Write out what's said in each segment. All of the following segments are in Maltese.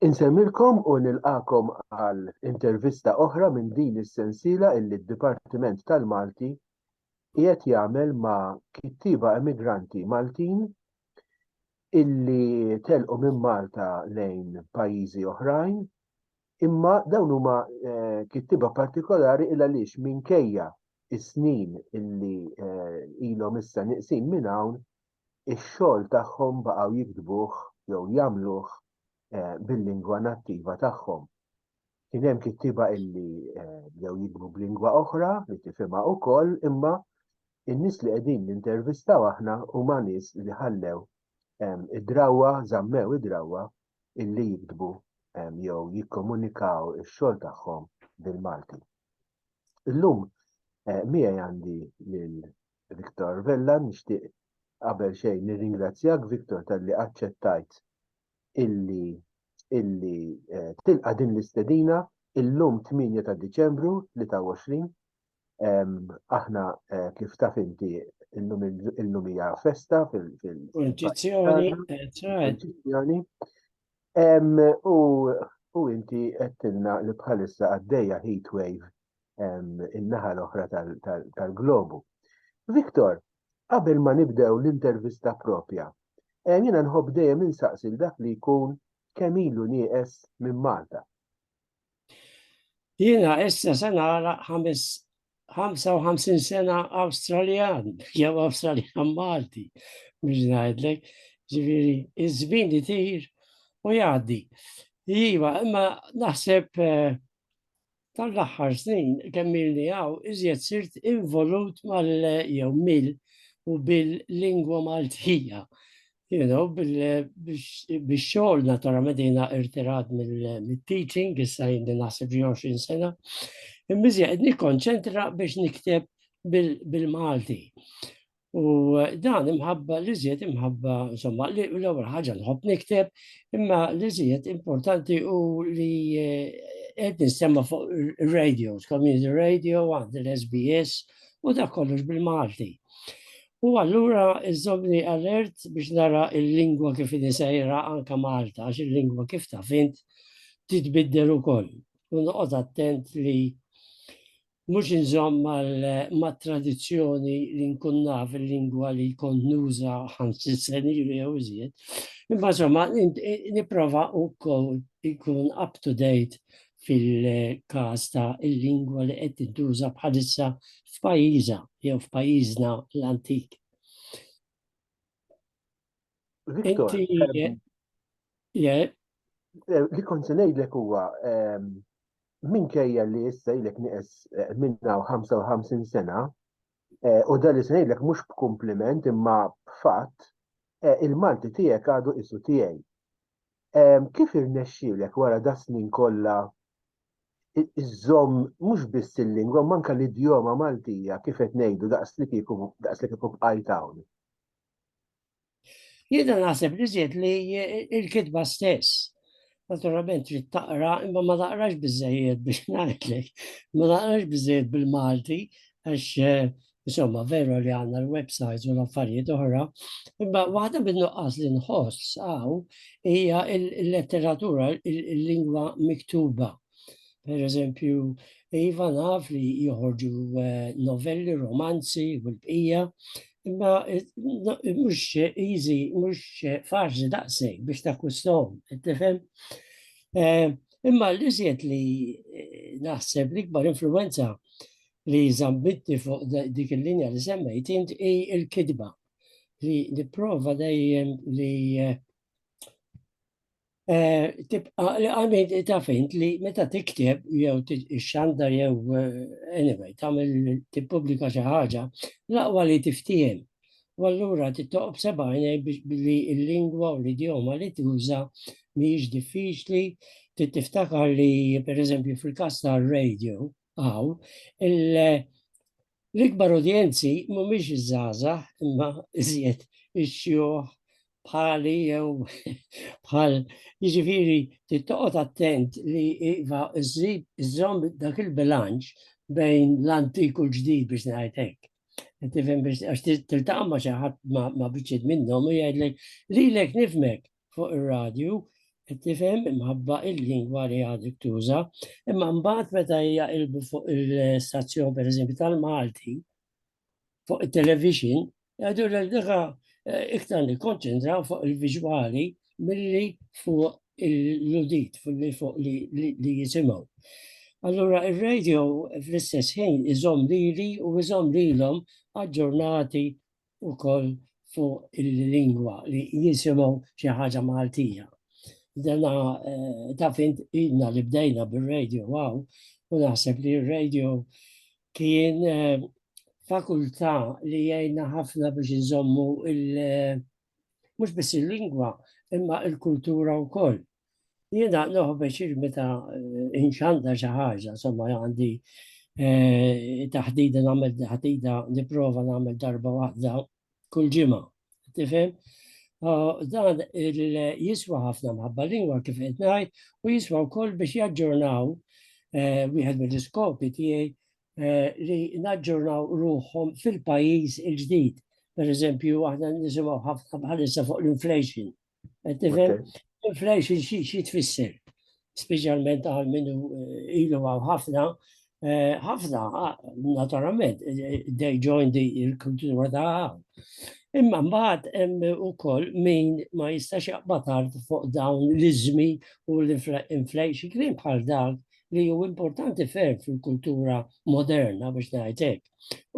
Insemmilkom u nilqakom għal intervista oħra minn din is-sensiela illi d-Dipartiment tal-Malti qiegħed jagħmel ma' kittieba emigranti Maltin illi telqu minn Malta lejn pajjiżi oħrajn imma dawn huma eh, kittieba partikolari il għaliex minkejja is-snin illi eh, ilhom issa niqsin minn hawn ix-xogħol tagħhom baqgħu jiktbuh jew jagħmluh bil-lingwa nattiva tagħhom. Kien hemm kittieba illi bdew jiktbu b'lingwa oħra li tifhimha wkoll imma in-nies li qegħdin nintervistaw aħna huma nies li ħallew id-drawwa, żammew id-drawwa illi jiktbu jew jikkomunikaw ix-xogħol tagħhom bil-Malti. Illum eh, miegħi għandi lil Viktor Vella, nixtieq qabel xejn nirringrazzjak Viktor talli aċċettajt illi illi eh, tilqa' din l-istedina illum 8 ta' Diċembru 23 aħna eh, kif taf inti illum hija festa fil-Kunċizzjoni. U inti qedtilna li bħalissa għaddejja heat wave in-naħa l-oħra tal-globu. Viktor, qabel ma nibdew l-intervista propja, eh, jiena nħobb dejjem insaqsil dak li jkun kemm ilu nieqes minn Malta. Jiena issa se nara 55 sena Awstraljan, jew Awstraljan Malti, biex ngħidlek, ġifieri iż-żmien li tir u jgħaddi. Iva, imma naħseb eh, Dan l-aħħar snin kemm ilni hawn iżjed sirt involut mal jew mill u bil-lingwa Maltija. You know, bix-xogħol naturalment jiena irtirat mill-teaching, issa jindi naħseb xi 20 sena. Imma qed nikkonċentra biex nikteb bil-Malti. U dan imħabba li żied imħabba, insomma, li l-ewwel ħaġa nħobb nikteb, imma li żied importanti u li eh, qed nistemma fuq radio, community radio, għand l-SBS u da kollox bil-Malti. U allura iżomni alert biex nara il-lingwa kif nisajra anka Malta, għax il-lingwa kif ta' fint titbiddel ukoll. U noqgħod attent li Mhux inżomm mat-tradizzjoni li nkun naf il-lingwa li kont nuża ħamsin sena ilu jew iżjed, imma insomma nipprova wkoll inkun up to date fil-każ ta' l-lingwa li qed tintuża bħalissa f'pajjiżha jew f'pajjiżna l-antik. Li kont se ngħidlek huwa minkejja li issa ilek nieqes eh, minna u 55 sena, eh, u dan li se ngħidlek mhux b'kumpliment imma b'fatt, eh, il-Malti tiegħek għadu isu tiegħi. Kif irnexxielek wara da snin kollha iżżomm mhux biss il-lingwa manka l-idjoma Maltija kif qed ngħidu daqs li kieku daqs li kieku bqajt hawn. Jiena naħseb li żied li il-kitba stess naturalment trid taqra, imma ma taqrax biżejjed biex ngħidlek, ma taqrax biżejjed bil-Malti, għax eh, insomma veru li għandna l-websites u l-affarijiet oħra, imma waħda bin-nuqqas li nħoss għaw hija l-letteratura, il-lingwa miktuba. Per eżempju, Iva naf li joħorġu eh, novelli, romanzi u l-bqija, imma eh, mhux easy, mhux eh, faċli daqseg biex takkustom, tifhem? Imma li żied li naħseb l-ikbar influenza li zambitti fuq dik il-linja li semmejt int i il-kidba li niprofa dejjem li eh, Eh, tibqa li għamid ta' fint li meta tikteb jew xandar jew eh, anyway, tamil tippubblika xi ħaġa, laqwa li tiftijem. U allura tittoqob sebajna billi il-lingwa u l-idjoma li tuża mhijiex diffiċli, tiftakar li pereżempju fil-każ tar-radio għaw, L-ikbar udjenzi mhumiex iż-żgħażagħ imma iżjed ix-xjuħ bħali jew bħal jiġifieri tittoqgħod attent li iva iżżid iżżomm dak il-bilanċ bejn l-antik u l-ġdid biex ngħid hekk. Tifhem biex għax tiltaqa' ma' xi ħadd ma' biċċiet minnhom u jgħidlek lilek nifmek fuq ir-radju, tifhem imħabba il-lingwa li għadek tuża, imma mbagħad meta hija ilbu fuq il-stazzjon pereżempju tal-Malti, fuq it-television, għadu l diħa eh, iktar li konċentra fuq il-viġwali milli fuq l-udit, fuq li jisimaw. Allura il-radio fl-istess ħin iżom lili u iżom lilhom aġġornati ukoll fuq il-lingwa li jisimgħu xi ħaġa Maltija. Dana eh, ta' fint idna li bdejna bil-radio għaw, u naħseb li r-radio kien eh, fakultà li jgħinna ħafna biex nżommu il- eh, mhux biss il-lingwa, imma il-kultura wkoll. Jiena noħbeġ il-meta eh, inxanda xi ħaġa, somma għandi eh, taħdida nagħmel taħdida nipprova nagħmel darba waħda kull ġimgħa. Tifhem? Ah, dan jiswa ħafna mħabba lingwa kif qed ngħid u jiswa wkoll biex jaġġornaw eh, wieħed mill-iskopi tiegħi li naġġornaw ruħhom fil-pajjiż il-ġdid. Per eżempju, aħna nisimgħu ħafna bħalissa fuq l-inflation Tifhem? Inflation xi tfisser, speċjalment għal minnu eh, ilu għaw ħafna, eh, ħafna, ah, naturalment, eh, they join the kultura ta' għaw. Imma mbagħad hemm ukoll min ma jistax jaqbad art fuq dawn l-iżmi u l-inflation kien bħal dak li hu importanti ferm fil-kultura moderna biex ngħid hekk.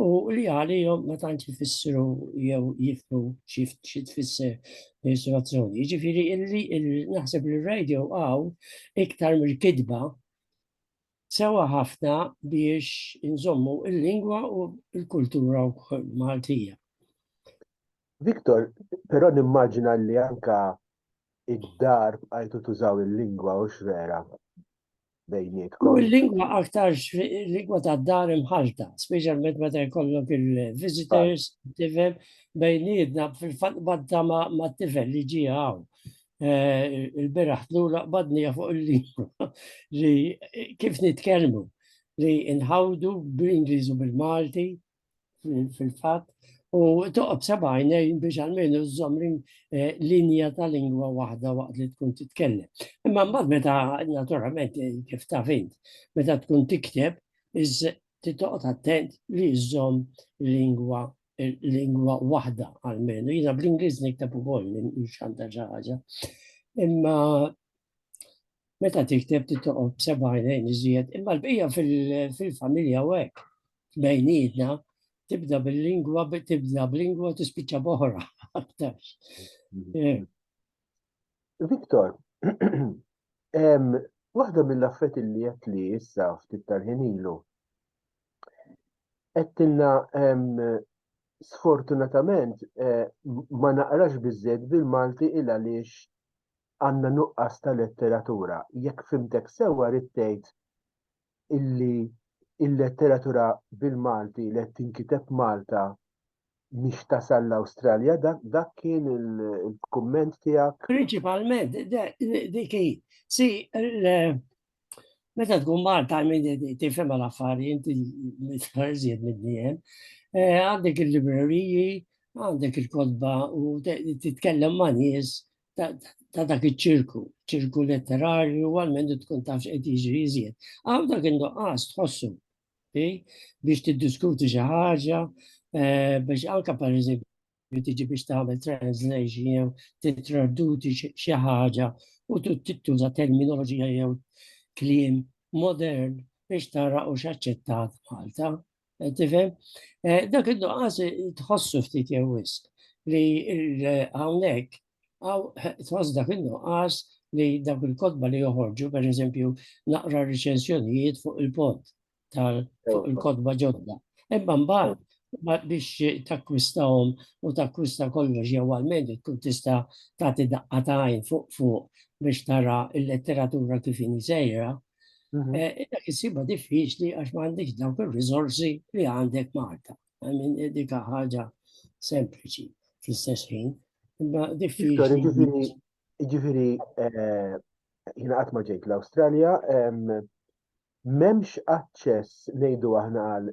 U li għalihom ma tantx jfissru jew jifmu xi tfisser l-istruzzjoni. Ġifieri naħseb li r-radio għaw iktar mill-kitba sewa ħafna biex inżommu il-lingwa u l-kultura Maltija. Viktor, però nimmaġina li anka id-dar bqajtu tużaw il-lingwa u x'vera. bejnietkom. U l-lingwa aktar lingwa ta' dar imħalta, speċjalment meta jkollok il-visitors, tifel bejnietna fil-fatt badda ma' tifel li ġie hawn. Eh, il-beraħ tlura qbadni fuq il-lingwa li kif nitkellmu li nħawdu bl-Ingliż u bil-Malti fil-fatt u toqgħod seba' għajnejn biex almenu żżomm eh, linja ta' lingwa waħda waqt li tkun titkellem. Imma mbagħad meta naturalment eh, kif ta' fint, meta tkun tikteb iż titoqgħod attent li żżomm lingwa eh, lingwa waħda almenu. Jiena bl-Ingliż nikteb ukoll xanta xi ħaġa. Imma Meta tikteb titoqgħod b'seba' għajnejn iżjed, imma l-bqija fil-familja u hekk bejnietna tibda bil-lingwa, tibda b'lingwa tispiċċa boħra aktar. Eh. Viktor, waħda mill-affet li jett li issa ftit tal-ħin ilu, għettilna sfortunatament eh, ma naqrax bizzed bil-Malti il għaliex għandna nuqqas ta' letteratura. Jekk fhimtek sewwa rrid tgħid illi il-letteratura bil-Malti li qed tinkiteb Malta mhix tasal l-Awstralja, dak kien il-kumment tiegħek? Prinċipalment, dik hi. Si, meta tkun Malta minn tifhem l-affari inti mitħarżiet mid-diem, eh, għandek il-libreriji, għandek il-kodba u titkellem ma' nies ta' dak iċ-ċirku, ċirku letterarju, għalmen tkun taf x'qed jiġri iżjed. Għaw dak indoqqas tħossu biex tiddiskuti xi ħaġa, eh, biex anka per eżempju tiġi biex tagħmel translation jew titraduti xi ħaġa u tittuża terminoloġija jew kliem modern biex tara u x'aċċettat Malta Tifhem? Eh, dak id-nuqqas tħossu ftit jew wisq li hawnhekk għaw tħoss dak id-nuqqas li dak il-kodba li joħorġu, per eżempju, naqra riċensjonijiet fuq il-pod tal-kodba ġodda. Ebba mbagħad biex takkwistahom u takkwista kollox jew għalmend tkun tista' tagħti daqqa ta' għajn fuq fuq biex tara l-letteratura kif sejra, Mhm. Eh, Illa kisiba diffiċli għax ma għandek dawk il-rizorsi li għandek Malta. Għamin eh, dika ħaġa sempliċi fl-istess ħin. Imma diffiċli. Ġifiri, eh, jina għatma ġejt l-Australia, memx aċċess nejdu aħna għal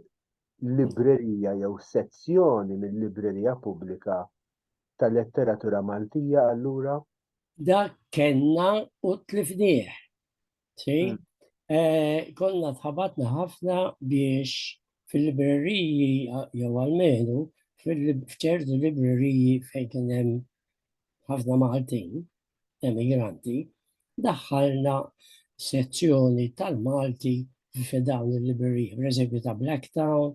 librerija jew sezzjoni minn librerija pubblika tal-letteratura Maltija allura? Da kenna u tlifnieh Tfejn? Mm. Eh, konna tħabatna ħafna biex fil-libreriji, jew għalmenu, f'ċertu libreriji fejn kien hemm ħafna Maltin, emigranti, daħħalna sezzjoni tal-Malti f'dawn il-libreriji, per eżempju ta' Blacktown,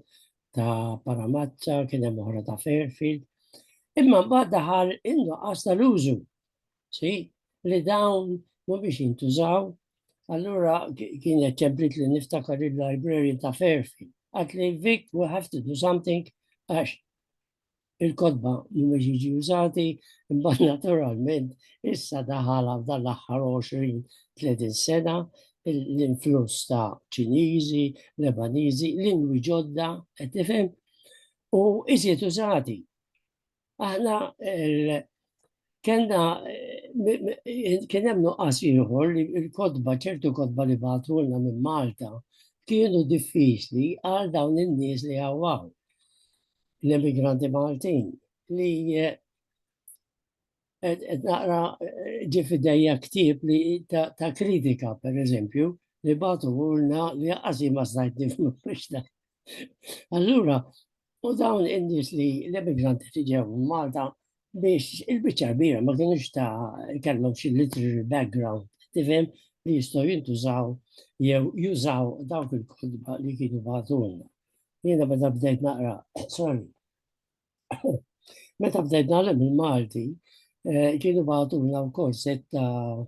ta' Paramazza, kien hemm oħra ta' Fairfield. Imma mbagħad daħal innuqqas tal-użu Si, li dawn ma biex jintużaw, allura kienet ċemplit li niftakar il-library ta' Ferfi. Għat li Vic, we have to do something, għax il-kodba mhumiex jiġi użati, imma naturalment issa daħala f'dan l-aħħar 20-30 sena l-influss ta' Ċiniżi, Lebaniżi, lingwi ġodda, qed tifhem, u iżjed użati. Aħna kena kien hemm nuqqas ieħor li l-kodba ċertu kodba li bagħtulna minn Malta kienu diffiċli għal dawn in-nies li għawaw l-emigranti Maltin li eh, qed naqra eh, ġi fidejja ktieb li ta' kritika, per eżempju, li batu għulna li għazi ma stajt nifmu biex Allura, u dawn indis li l-emigranti li ġew Malta biex il-bicċa kbira ma kienux ta' kellhom xi literary background, tifhem li jistgħu jintużaw jew jużaw dawk il-kodba li kienu bagħtulna. Jiena meta bdejt naqra, sorry, Meta bdejt nagħlem il-Malti, eh, kienu bagħtuna wkoll set ta'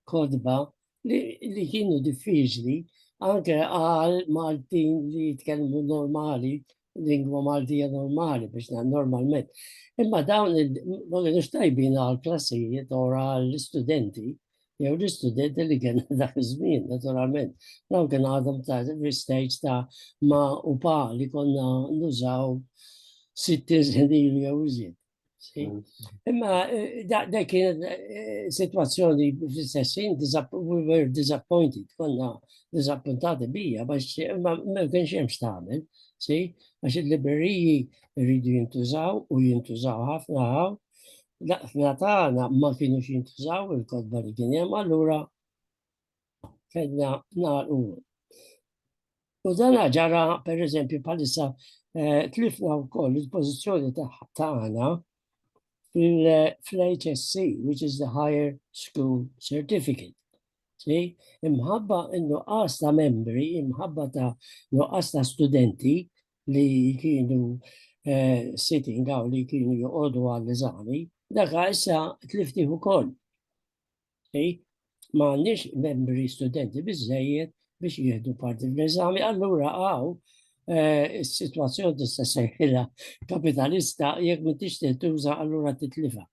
kodba li kienu diffiċli anke għal Maltin li jitkellmu normali, lingwa Maltija normali biex na normalment. Imma dawn il-bonus tajbin għal klassijiet u għal studenti jew l-istudenti li kien dak iż-żmien, naturalment. Dawn kien għadhom ta' l-istajġ ta' ma u pa li konna nużaw 60 snin jew iżjed. Mm. Imma eh, da kien eh, situazzjoni fl-istessin, we were disappointed, konna disappuntati bija, bax ma kien xem xtamen, si, għax il-libreriji rridu jintużaw u jintużaw ħafna għaw, Laqtna tagħna ma kienux jintużaw il-kodba li kien hemm allura kellna nagħlqu. U dan ġara pereżempju bħalissa eh, tlifna wkoll il-pożizzjoni tagħna fil-HSC, which is the Higher School Certificate. See? Imħabba nuqqas ta' membri, imħabba ta' nuqqas ta' studenti, li kienu sitting għaw li kienu joqogħdu għall-eżami, daka issa tliftih ukoll. Ma għandix membri studenti biżejjed biex jieħdu parti fl-eżami, allura għaw eh, is-sitwazzjoni tista' seħħilha kapitalista jekk m'intix tintuża allura titlifa.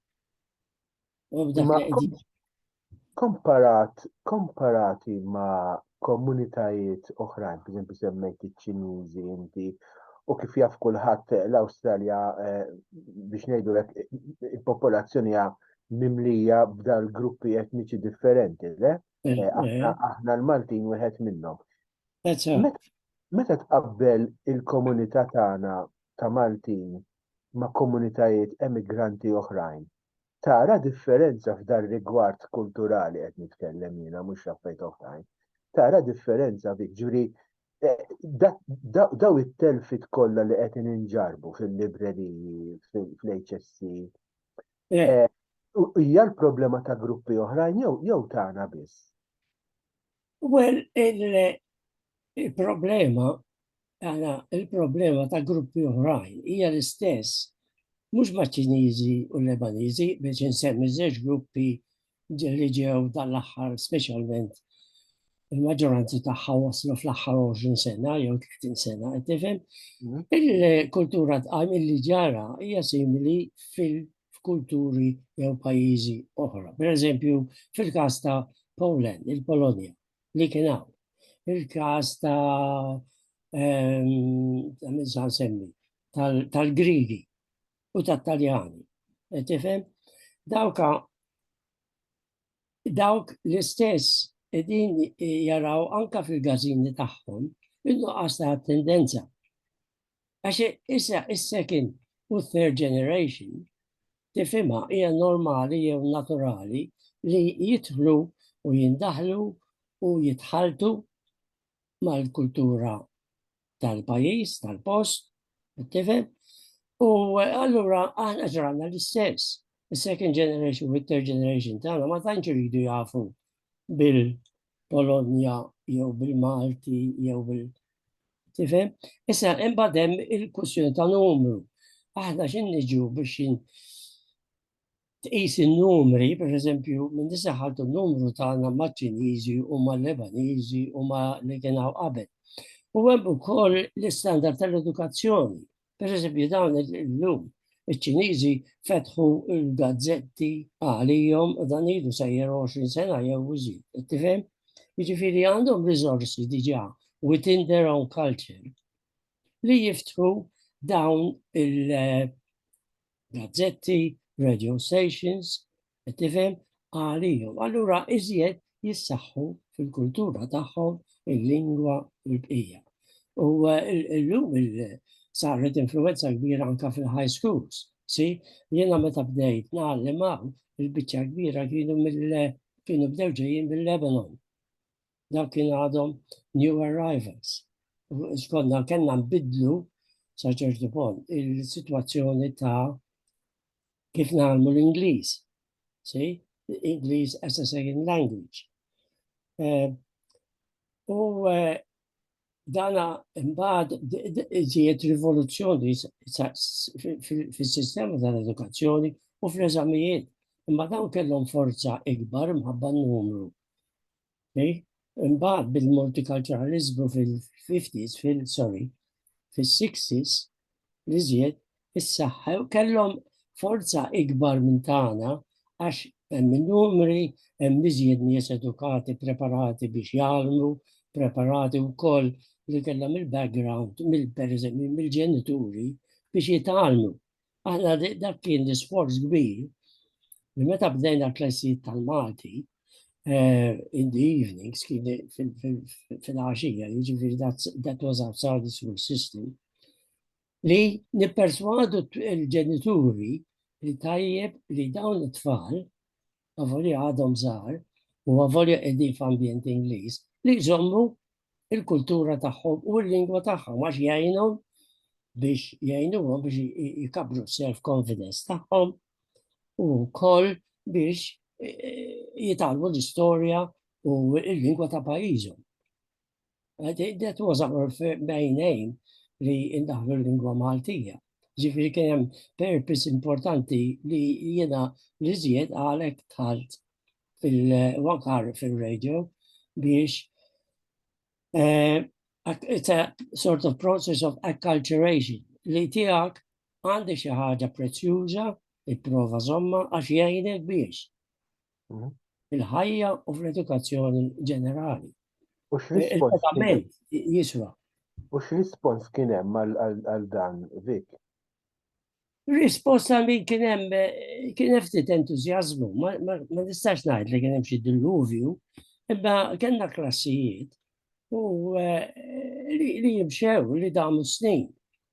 Komparat, komparati ma' komunitajiet oħrajn, pereżempju semmejt iċ-Ċiniżi inti, u kif jaf kulħadd l-Awstralja eh, biex ngħidulek il-popolazzjoni hija mimlija b'dal gruppi etniċi differenti, le? Eh, eh, aħna, aħna l-Maltin wieħed minnhom. Meta tqabbel il-komunità tagħna ta' Maltin ma' komunitajiet emigranti oħrajn, tara differenza f'dar-rigward kulturali qed nitkellem jiena mhux f'affarijiet oħrajn, tara differenza fik, ġifieri daw it-telfiet kollha li qegħdin inġarrbu fil-libreriji, fl-HSC, hija l-problema ta' gruppi oħrajn jew tagħna biss? Well, il-problema, għana, il-problema ta' gruppi uħrajn hija l-istess, mux ma' ċinizi u lebanizi, biex nsemmi zeġ gruppi li ġew dal-axħar, specialment il-maġġoranzi tagħha waslu fl-aħħar 20 sena jew 30 sena, qed tifhem. Mhm. Il-kultura tqajm li ġara hija simili fil- f'kulturi jew pajjiżi oħra. Per eżempju, fil-każ ta' Poland, il-Polonja, li kien hawn. Il-każ ta' ehm, semmi tal-Grigi u tat-Taljani. E tifhem? Dawka dawk l-istess edin jaraw anka fil-gazini tagħhom innu għasta tendenza Għax issa is-second u third generation tifhimha hija normali jew naturali li jidħlu u jindaħlu u jitħaltu mal-kultura tal-pajis, tal-post, tifhem? U allura aħna ġranna l-istess. Il-second generation u third generation tagħna ma tantx iridu jafu bil Polonja jew bil-Malti jew bil Tifhem? Issa imbagħad hemm il-kwistjoni ta' numru. Aħna x'in niġu biex tqis in-numri, per eżempju, minn disa ħaltu n-numru tagħna maċ-Ċiniżi u mal-Lebaniżi u ma li kien hawn qabel. U hemm ukoll l-istandard tal-edukazzjoni Per eżempju, dawn il-lum, il-ċinizi fetħu il-gazzetti għalijom u dan idu sajjer 20 sena jew użid. Tifhem? Jiġifieri għandhom rizorsi diġà within their own culture li jiftħu dawn il- gazzetti, radio stations, tifhem, għalihom. Allura iżjed jissaħħu fil-kultura tagħhom il-lingwa u l-bqija. U eh, l-lum saret influenza kbira anka fil-high schools. Si, jena meta bdejt naħlem il-bicċa kbira kienu mill kienu bdew ġejjin mill-Lebanon. Dawk kienu għadhom new arrivals. Xkonna kellna nbidlu sa ċertu punt il-sitwazzjoni ta' kif nagħmlu l-Ingliż. Si, Ingliż as a second language. Eh, u eh, dana mbagħad ġiet rivoluzzjoni fis-sistema tal-edukazzjoni u fl-eżamijiet. Imma dawn kellhom forza ikbar mħabba numru Imbagħad bil-multikulturaliżmu fil-50s, fil-sorry, fil-60s, li żjed issaħħew kellhom forza ikbar minn tagħna għax hemm numri hemm iżjed nies edukati, preparati biex jgħallmu, preparati wkoll li kellhom il-background mill-ġenituri biex jitgħallmu. Aħna dak kien l-isforz kbir li meta bdejna klessijiet tal-Malti, eh, in the evenings, kien fil-għaxija, jiġifieri that was outside the school system, li nipperswadu l-ġenituri li tajjeb li dawn it-tfal, għavoli għadhom żgħar, u għavoli qegħdin f'ambjent Ingliż, li jżommu il-kultura tagħhom u l-lingwa tagħhom għax jgħinhom biex jgħinuhom biex jikabru self-confidence tagħhom u wkoll biex e, e, jitalmu l-istorja u l-lingwa ta' pajjiżhom. That was our main aim li ndaħlu l-lingwa Maltija. Ġifiri kien hemm purpose importanti li jiena li żjed għalhekk tħalt fil-wakar fil-radio biex eh, it's a sort of process of acculturation li tiegħek għandi xi ħaġa prezzjuża ipprova żomma għax jgħinek biex mhm. il-ħajja u fl-edukazzjoni ġenerali. U x'rispons jiswa. U x'rispons kien hemm għal dan Vik? Risposta li kien hemm kien hemm ftit entużjażmu, ma nistax ngħid li kien hemm xi dilluvju, imma kellna klassijiet u eh, li jimxew li damu snin.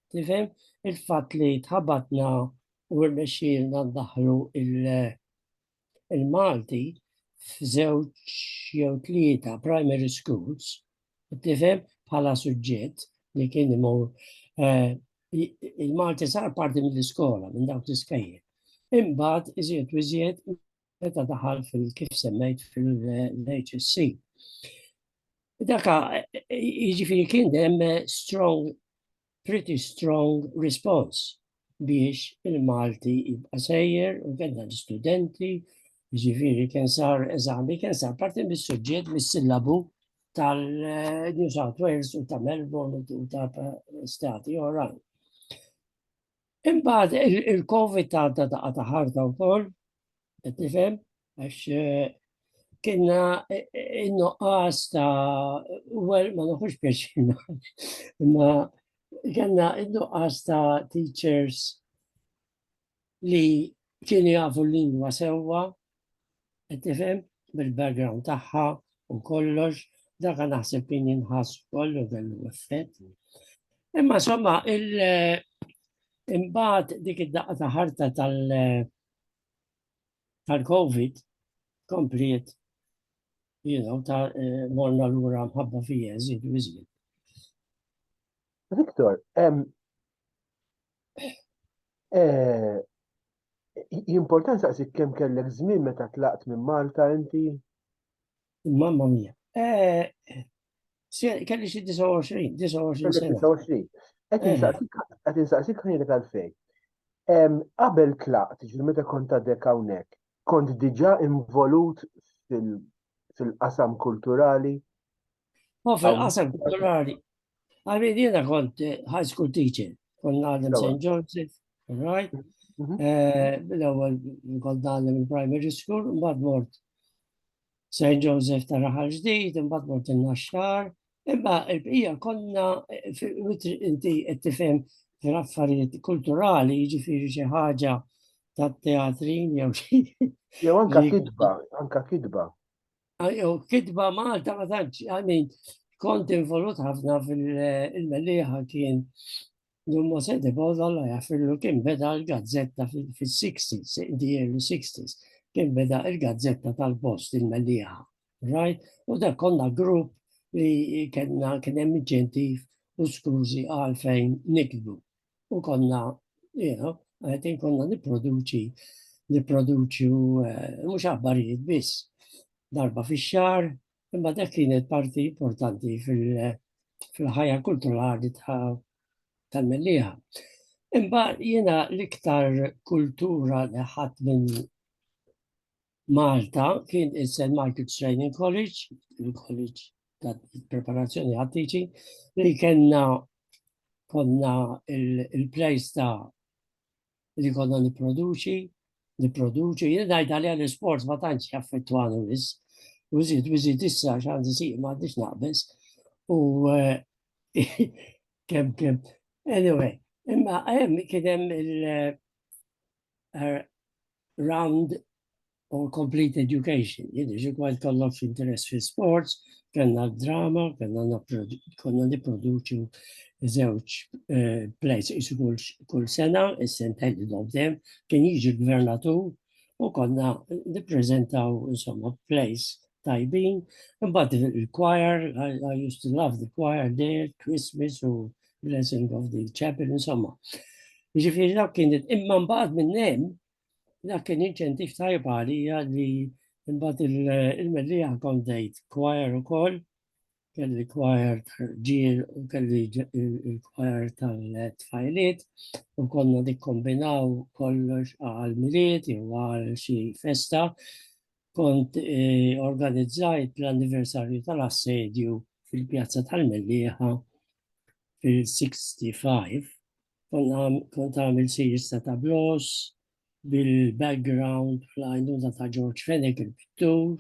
Tifhem il-fatt li tħabatna u rnexxielna ndaħlu il- il-Malti f'żewġ jew tlieta primary schools, tifhem bħala suġġett li kien imur eh, il-Malti sar parti mill-iskola, minn dawk l-iskajjer. Imbagħad iżjed u iżjed meta daħal fil-kif semmejt fil-HSC. Daka, jiġifieri kien hemm strong pretty strong response biex il-Malti jibqa' sejjer u kellna l-istudenti, ġifieri kien sar eżami, kien sar parti mis-suġġett mis-sillabu tal-New South Wales u ta' Melbourne u ta' stati oħrajn. Imbagħad il-Covid għadda daqqa ta' ħarta wkoll, qed nifhem, għax eh, kienna eh, eh, in-nuqqas ta' well ma nħux pjaċina, imma kienna in-nuqqas ta' teachers li kienu jafu l-lingwa sewwa Qed tifhem bil-background tagħha u kollox, daka naħseb kien jinħass kollu kellu effett. Imma somma il imbagħad dik id-daqqa ta' ħarta tal tal-COVID kompliet you know, ta' eh, morna l-ura mħabba fija, zid, zid. Victor, eh, Jimportan saqsik kemm kellek żmien meta tlaqt minn Malta inti? Mamma mia. Eh, kelli xi 29, 29 sena. 29. Qed eh. insaqsik ħajrek għalfej. Qabel tlaqt, ġil meta kont għadek hawnhekk, kont diġà involut fil-qasam kulturali? U fil-qasam kulturali, għalmin jena kont eh, high school teacher, kont għadem St. Joseph, right? Mhm. Eh, l-ewwel kont għadem il-primary school, mbagħad mort St. Joseph ta' raħal ġdid, mbagħad mort il-naxxar, imma il-bqija konna eh, inti qed tifhem fil-affarijiet kulturali, jiġifieri xi ħaġa tat-teatrin jew xi. Jew anka kidba, anka kidba. jew kitba Malta ma tantx, I mean, kont involut ħafna fil-melliħa kien Dummo Sede Bodo alla jaffillu kien beda l-gazzetta fil-60s, di early 60s, kien beda il-gazzetta tal-post il-melliħa, right? U da konna grupp li kena kien hemm inċentiv u skużi għalfejn nikbu. u konna, you know, għetin konna niproduċi, niproduċi eh, mux aħbarijiet biss darba fi xar, imma dak kienet parti importanti fil-ħajja kulturali tal-melliħa. Imma jena l-iktar kultura li ħat minn Malta kien il-St. Michael Training College, il-College ta' preparazzjoni għat-teaching, li kena konna il-plejs ta' li konna niproduċi, niproduċi, jien dajt għalija l-sport ma tantx jaffettwani wis, u zid, u zid issa xanzi si, ma għandix naqbes, u kem, kem, anyway, imma għem kienem il- uh, round or complete education. Jidri ġikwajt kollok interess fi sports, kena drama, kena konna niproduċu zewċ eh, plays isu kull sena, is-sent headed of them, kien jiġi gvernatur u konna niprezentaw insomma plays tajbin, but il-choir, I, I used to love the choir there, Christmas u blessing of the chapel, insomma. Ġifiri dak kien, imma mbagħad minn hemm, dak kien inċentif tajb għalija li mbagħad il-mellija kondejt kwajer ukoll, kelli kwajer ġiel u kelli il-kwajer tal-tfajliet u konna dikkombinaw kollox għal miliet jew għal xi festa kont eh, organizzajt l-anniversarju tal-assedju fil-pjazza tal-Mellieħa fil-65. Kont għamil series ta' tablos bil-background fl-għajnuna ta' George Fenech il-pittur,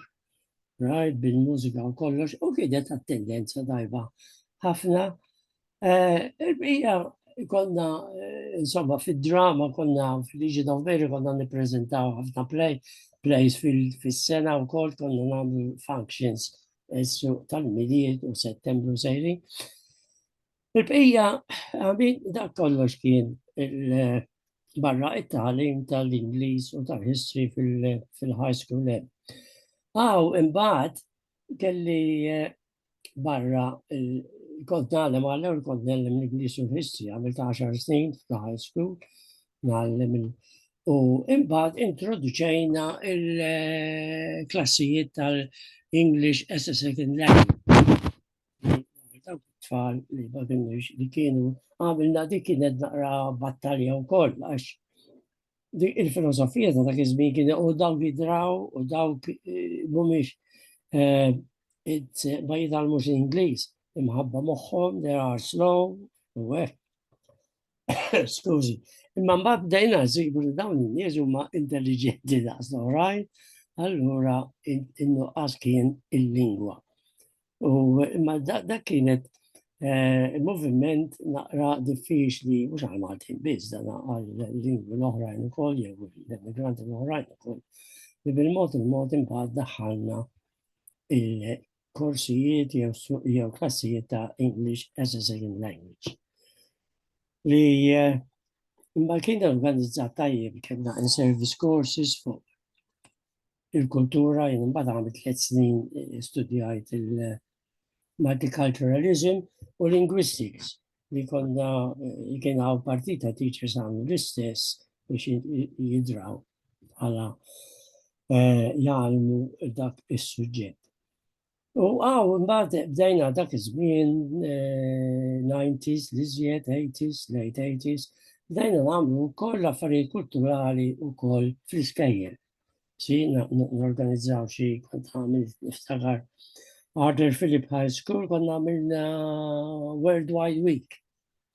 right, bil-mużika u kollox, u kienet attendenza tajba ħafna Il-bqija konna, insomma, fid-drama konna fil-Legion of Mary konna nippreżentaw ħafna play, plays fil-sena u kol konna nagħmlu functions essu tal-miliet u settembru sejri. Il-bqija, għabin, dak kollox kien barra it-talim tal-Inglis u tal-History fil-high school. Għaw, imbagħad kelli barra kont nagħlem għallew li kont nellem l-Ingliż u l-History, għamil ta' 10 snin f'ta' high school, nagħlem U imbagħad introduċejna il-klassijiet tal-English as a second language. Dawk tfal li ma kienux li kienu għamilna dik kienet naqra battalja wkoll għax il-filosofija ta' dak iż-żmien kien u dawk jidraw u dawk eh, mhumiex eh, ma jitgħallmux l-Ingliż imħabba moħħhom they are slow u hekk. Skużi. Imma mbagħad bdejna nsibu li dawn in-nies huma intelliġenti daqs l-oħrajn, allura in-nuqqas kien il-lingwa. U imma dak kienet eh, il-moviment naqra diffiċli, mhux għal Maltin biss, dan għal lingwi l-oħrajn ukoll jew l-immigranti l-oħrajn ukoll. Li bil-mod il-mod imbagħad daħħalna il-korsijiet jew klassijiet ta' English as a second language. Li eh, imma kien organizzat tajjeb kellna in service courses fuq il-kultura, jien imbagħad għamilt tliet snin studjajt il-multiculturalism u linguistics li konna kien hawn partita teachers għamlu l-istess biex jidraw għala eh, jgħalmu dak is-suġġett. U għaw, mbagħad bdejna dak iż-żmien 90s, eh, li żjed 80s, late 80s, bdejna nagħmlu wkoll affarijiet kulturali wkoll fl-iskejjel. Si norganizzaw xi kont għamil niftakar Arthur Philip High School konna għamilna Worldwide Week.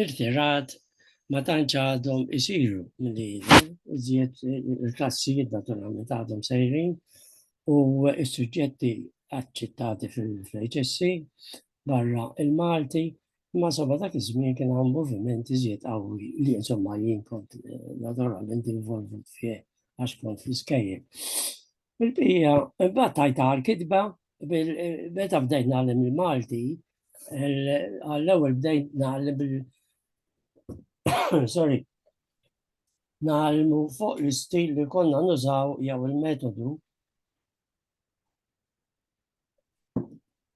irtirat ma tantx għadhom isiru milli jidher, iżjed il-klassijiet naturalment għadhom sejrin u s-suġġetti aċċettati fil-HSC barra il-Malti ma sabba dak iż-żmien kien hawn moviment iżjed qawwi li insomma jien kont eh, naturalment involvut fih għax kont fl-iskejjel. Il-bija, imbagħad tajta għal-kitba, meta bdejt nagħlem il-Malti, għall-ewwel bdejt nagħlem bil sorry, nagħlmu fuq l-istil li konna nużaw jew il-metodu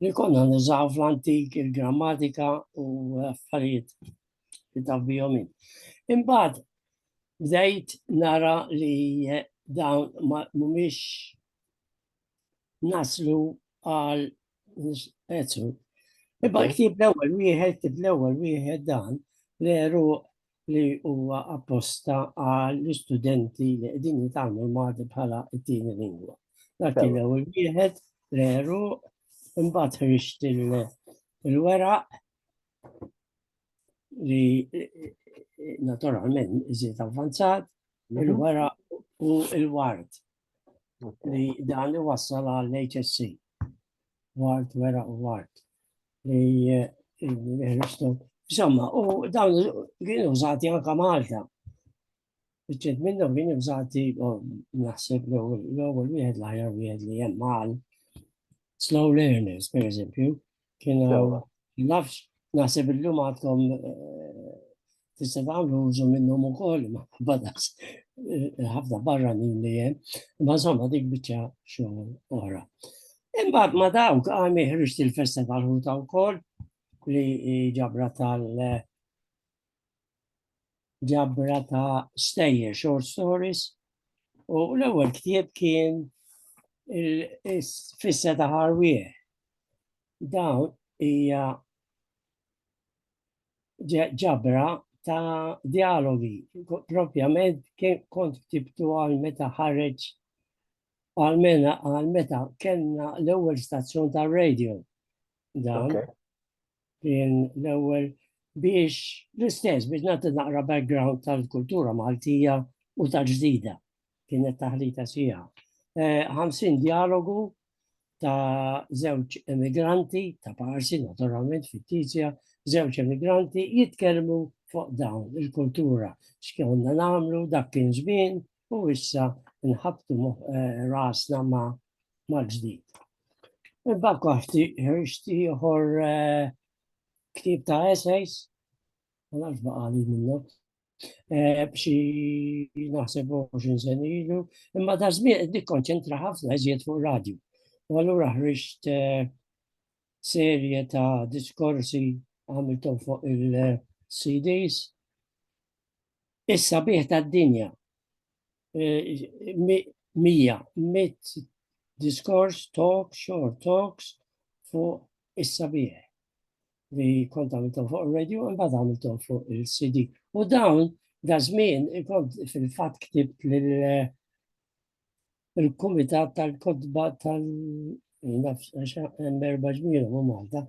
li konna nużaw fl-antik il-grammatika u affarijiet li taf bihom Imbagħad bdejt nara li dawn mhumiex naslu għal pezzu. Iba ktib l-ewwel wieħed, ktib l-ewwel wieħed dan l-eru li huwa apposta għal studenti li qegħdin jitgħallmu l-Malti bħala t-tieni lingwa. Dak kien l-ewwel wieħed l-eru imbagħad ħriġt il-weraq li naturalment iżiet avvanzat mhm. il-weraq u il-ward li dan iwassal għall-HSC. Ward, weraq u ward. Insomma, u dawn kienu użati anka Malta. Bċed minnhom kienu użati naħseb l-ewwel wieħed l-aħjar wieħed li hemm mal slow learners, per eżempju, kienu nafx naħseb illum għadkom eh, tista' tagħmlu użu minnhom ukoll ma badas eh, ħafna barra minn li hemm, ma insomma dik biċċa xogħol oħra. Imbagħad ma dawk għam ħriġt il-festa tal-ħuta wkoll li ġabra tal- eh, ġabra ta' stejjer short stories u l-ewwel ktieb kien il-fissa ta' ħarwieħ. Dawn hija ġabra ta' dialogi, propjament kien kont ktibtu għal meta ħareġ għal mena għal meta kellna l-ewwel stazzjon ta' radio. Dan kien l-ewwel biex l-istess biex nagħti naqra background tal-kultura Maltija u tal-ġdida kienet taħlita sija. 50 eh, dialogu ta' żewġ emigranti, ta' parsi naturalment fittizja, żewġ emigranti jitkellmu fuq dawn il-kultura, x'konna nagħmlu dak kien żmien u issa nħabtu eh, rasna ma' mal-ġdid. Imbagħad koħti ħriġti ieħor eh, ktib ta' essays, ma nafx baqali minnu, eh, b'xi naħseb 20 sen ilu, imma da żmien qed nikkonċentra ħafna iżjed fuq radju. U allura ħriġt eh, serje ta' diskorsi għamiltom fuq il-CDs. Issa bieħ ta' dinja mija, mit diskors, talk, short talks fuq is-sabiħ li kont għamiltom fuq il-radio, imbagħad għamiltom fuq il-CD. U dawn, da żmien, kont fil-fatt ktibt eh, il-Kumitat tal-Kodba tal nafx hemm erba' ġmielhom u Malta.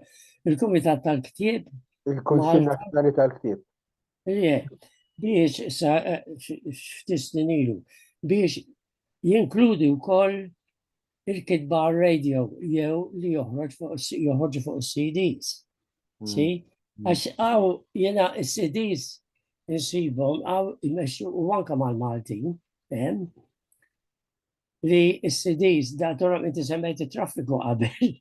Il-Kumitat tal-Ktieb. Il-Kunsill Nazzjonali tal-Ktieb. biex sa eh, f'tisnin ilu biex jinkludi wkoll il-kitba radio jew li joħroġ fuq is-CDs. Hmm. Si? Hmm. Għax għaw jena s-CDs nsibhom għaw jmexxu u anka mal-Maltin, li s-CDs da torok inti semmejt traffiku qabel.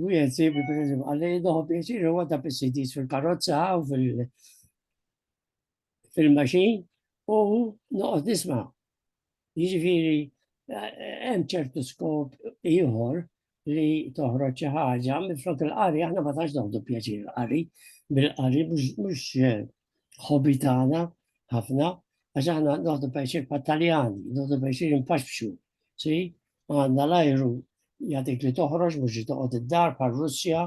U jgħed sibi per eżempju, għalli doħu pjaċir u għadda bis-CDs fil-karozza u fil-maċin u noqgħod nisma. Jiġifieri hemm ċertu skop ieħor li toħroġ xi ħaġa, minflok il-qari aħna ma tax noħdu pjaċir il-qari, bil-qari mhux eh, ħobi tagħna ħafna, għax aħna noħdu pjaċir pat-Taljani, noħdu pjaċir impaxxu, si, għandna l-ajru jagħtik li toħroġ mhux li toqgħod id-dar par Russja,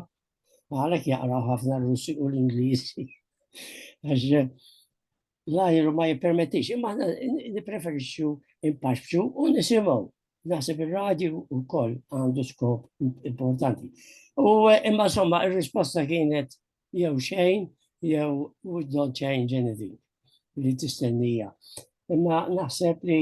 għalhekk jaqraw ħafna r-Russi u l-Ingliżi. Għax eh, l-ajru ma jippermettix, imma aħna nipreferixxu impaxxu u nisimgħu. Naħseb ir-radju wkoll għandu skop importanti. U imma somma ir-risposta kienet jew xejn jew we don't change anything li tistennija. Imma naħseb li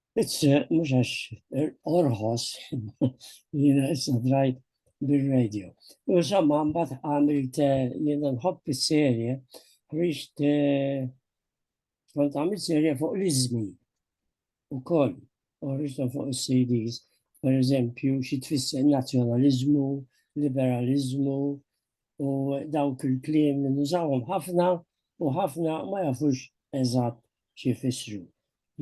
Pizze, mhux għax orħos, jiena issa drajt bil-radio. U insomma, mbagħad għamilt jiena nħobb is-serje, rixt kont għamilt serje fuq l-iżmi u koll, u rixta fuq is-CDs, per eżempju, xi tfisser nazzjonaliżmu, liberalizmu, u dawk il-kliem li nużawhom ħafna u ħafna ma jafux eżatt xi jfissru.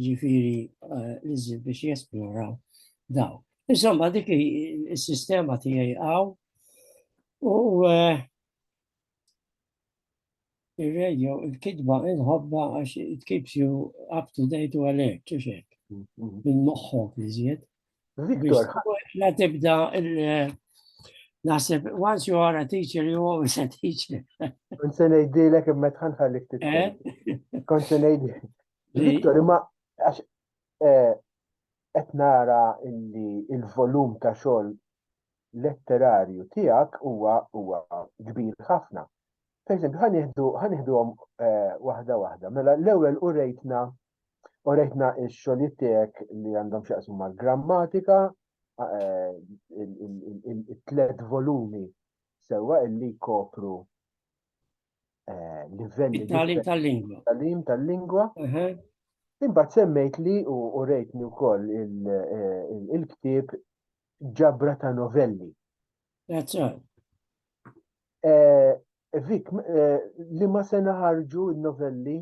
Ġifieri eh, l-iżżid biex jesploraw daw. Insomma, dik is-sistema tiegħi għaw u eh, il-radio, il-kidba, il-ħobba, għax it keeps you up to date u alert, ċuxek. Mm-hmm. Minn moħħok li zjed. Victor. La tibda Nasib, once you are a teacher, you always a teacher. Kont se ngħidilek imma tħan ħallik titkellem. Eh? Kont se ngħidilek. Victor, imma għax eh, qed nara illi il-volum ta' xogħol letterarju tiegħek huwa huwa kbir ħafna. Per eżempju, ħanieħdu ħanieħduhom eh, waħda waħda. Mela l-ewwel u rejtna U rejtna x-xogħlijiet tiegħek li għandhom x'jaqsmu mal-grammatika, eh, it-tlet volumi sewwa illi jkopru eh, livelli. Talim tal-lingwa. Talim tal-lingwa. Imbagħad semmejt li u rejtni wkoll eh, il-ktieb ġabra ta' novelli. That's right. Vik, li ma sena ħarġu il-novelli?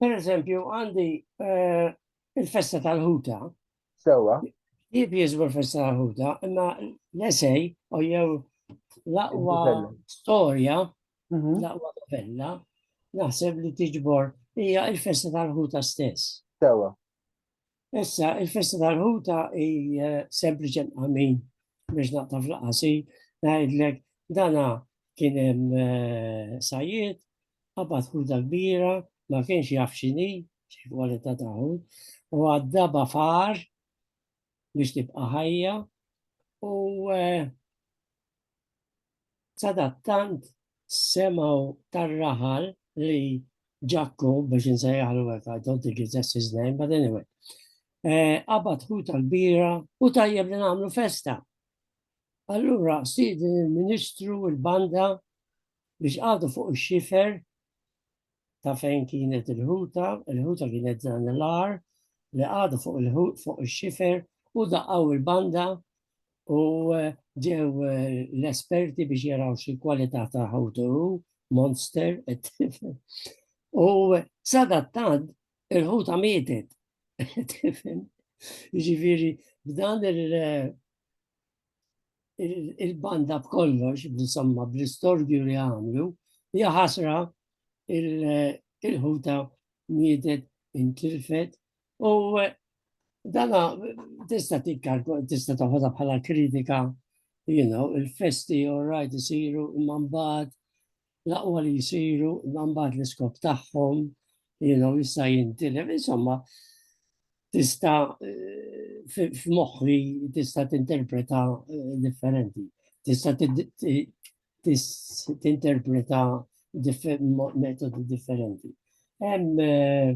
Per eżempju, għandi eh, il-festa tal-ħuta. Sewa. Jib jizbu l-festa tal-ħuta, imma l-esej, u jew l-aqwa storja, mhm. l-aqwa novella, naħseb li tiġbor hija il-festa tal-ħuta stess. Sewa. Issa, il-festa tal-ħuta hi sempliċi għamin biex naqta fl-qasi, ngħidlek dana kien hemm eh, sajiet, qabad ħuta kbira, ma kienx jaf xini, xi kwalità ta' u għaddaba far biex tibqa' ħajja u eh, Sadattant semgħu tar-raħal li Ġakku biex insejjaħlu hekk, I don't think it's that's his name, but anyway. Eh, qabad hu tal-bira u tajjeb li nagħmlu festa. Allura sidi il-Ministru il-banda biex għadu fuq ix-xifer ta' fejn kienet il-ħuta, il-ħuta kienet dan l-ar li għadu fuq il-ħut fuq il-xifer u daqqaw il-banda u eh, ġew eh, l-esperti biex jaraw xi kwalità ta' ħutu monster u sadattant il-ħuta mietet tifhem ġifieri b'dan il- eh, il-banda b'kollox, insomma, bl-istorju li għamlu, hija ħasra il-ħuta mietet intilfet u dana tista' tikkalku tista' taħodha bħala kritika, you know, il-festi all right isiru imma mbagħad l-aqwa li jisiru, imma mbagħad l-iskop tagħhom, jienu jista' jintilef, insomma, tista eh, f'moħħi tista' tinterpreta eh, differenti. Tista' tinterpreta metodi differenti. Hemm eh,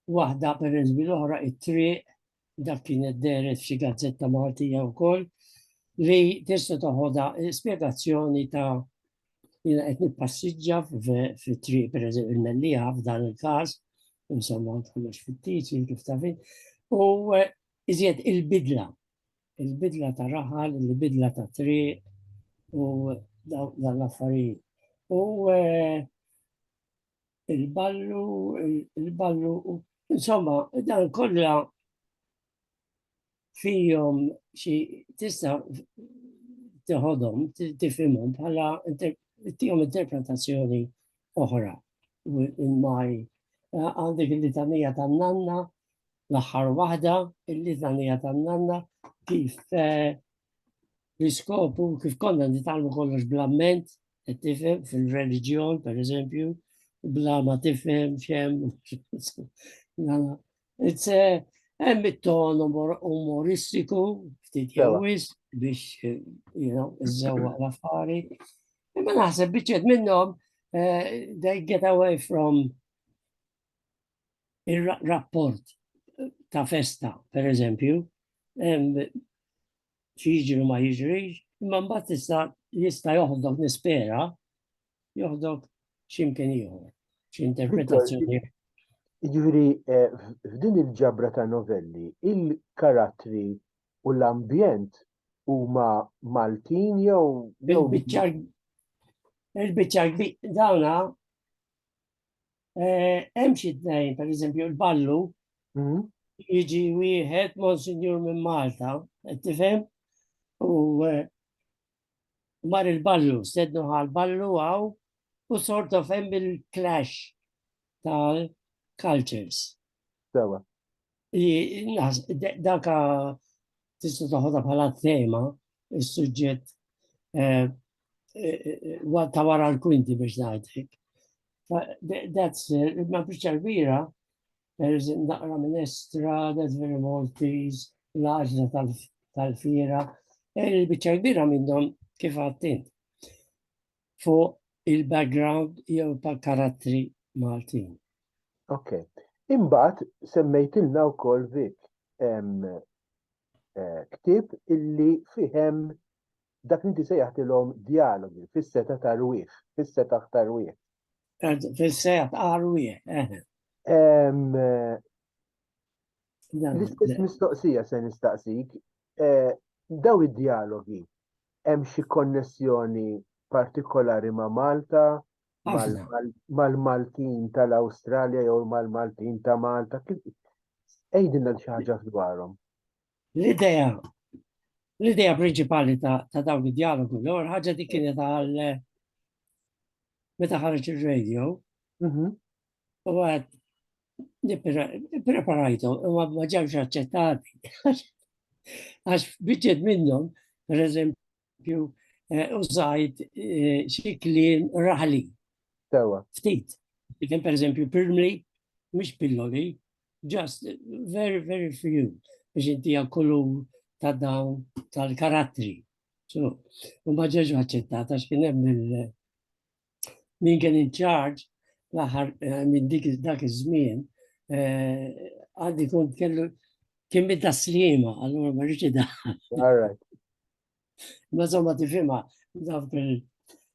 waħda per l-oħra it-triq dak kien id-deret f'xi gazzetta Maltija wkoll, li tista' toħodha spjegazzjoni ta' jina qed nippassiġġa fit-triq pereżempju il-mellija f'dan il-każ, insomma kollox fit-tiċi kif tafin, u eh, iżjed il-bidla, il-bidla ta' raħal, il-bidla ta' triq u dan l-affarijiet. U eh, il-ballu, il-ballu, insomma, dan kollha fihom xi tista' teħodhom, tifhimhom bħala tihom interpretazzjoni oħra. Il-maj għandek il-litanija tan-nanna, l-aħħar waħda, il-litanija tan-nanna, kif eh, l-iskopu, kif konna nitalmu kollox bl-amment, Qed tifhem fil-reliġjon, per eżempju, bla ma tifhem xem. It's eh, hemm it-ton umoristiku, ftit jawis biex, eh, you know, iżżewwa l-affari. Imma naħseb biċċet minnhom eh, they get away from ir-rapport ta' festa, per eżempju, xi jiġri ma jiġrix, imma mbagħad tista' jista' joħdok nispera joħdok x'imkien ieħor, xi interpretazzjoni. Jiġri eh, f'din il-ġabra ta' novelli, il-karattri u l-ambjent huma Maltin jew il-biċċar dawna Hemm xi tnejn, pereżempju l-ballu, mhm. jiġi wieħed Monsignor minn Malta, qed tifhem? U mar il-ballu, stednu għal ballu għaw u sort of hemm il-clash tal-cultures. Sewa. Daka tista' taħodha bħala tema is-suġġett eh, eh, eh, ta' wara l-kwinti biex ngħidlek. That's ma biċċa kbira naqra minn Estra, that's very Maltese, l-għaġla tal-fira, il-biċċa kbira minnhom kif għattint. fuq il-background jew tal-karattri Maltin. Ok. Imbagħad semmejtilna wkoll Vik eh, ktib illi fihem dak li tisejjaħtilhom dialogi fis-seta ta' rwieħ, fis-seta ta' rwieħ. Fis-seta ta' rwieħ. Eh. Eh, l-istess mistoqsija se nistaqsik, daw id-dialogi Hemm xi konnessjoni partikolari ma' Malta? Mal-Maltin tal-Awstralja jew mal-Maltin ta' Malta? Ejdinna xi ħaġa dwarhom. L-idea l-idea prinċipali ta' dawn id-dialogu l ħaġa dik kienet għal meta ħarġ ir-radio. Mhm. U għad, preparajtu, u għad ma ġewx aċċettati. Għax bieċed minnhom, per eżempju, eh, użajt eh, xi kliem raħli. Sewa. Ftit. Kien per eżempju pirmli, mhux pilloli, just very, very few biex inti kollu ta' dawn tal-karattri. So, u ma ġeġ aċċettata x'kien hemm min kien in charge l-aħħar eh, minn dik dak iż-żmien eh, għandi kont kellu kien minn ta' slima, allura ma rridx da. Ma żomma tifhimha dawk il-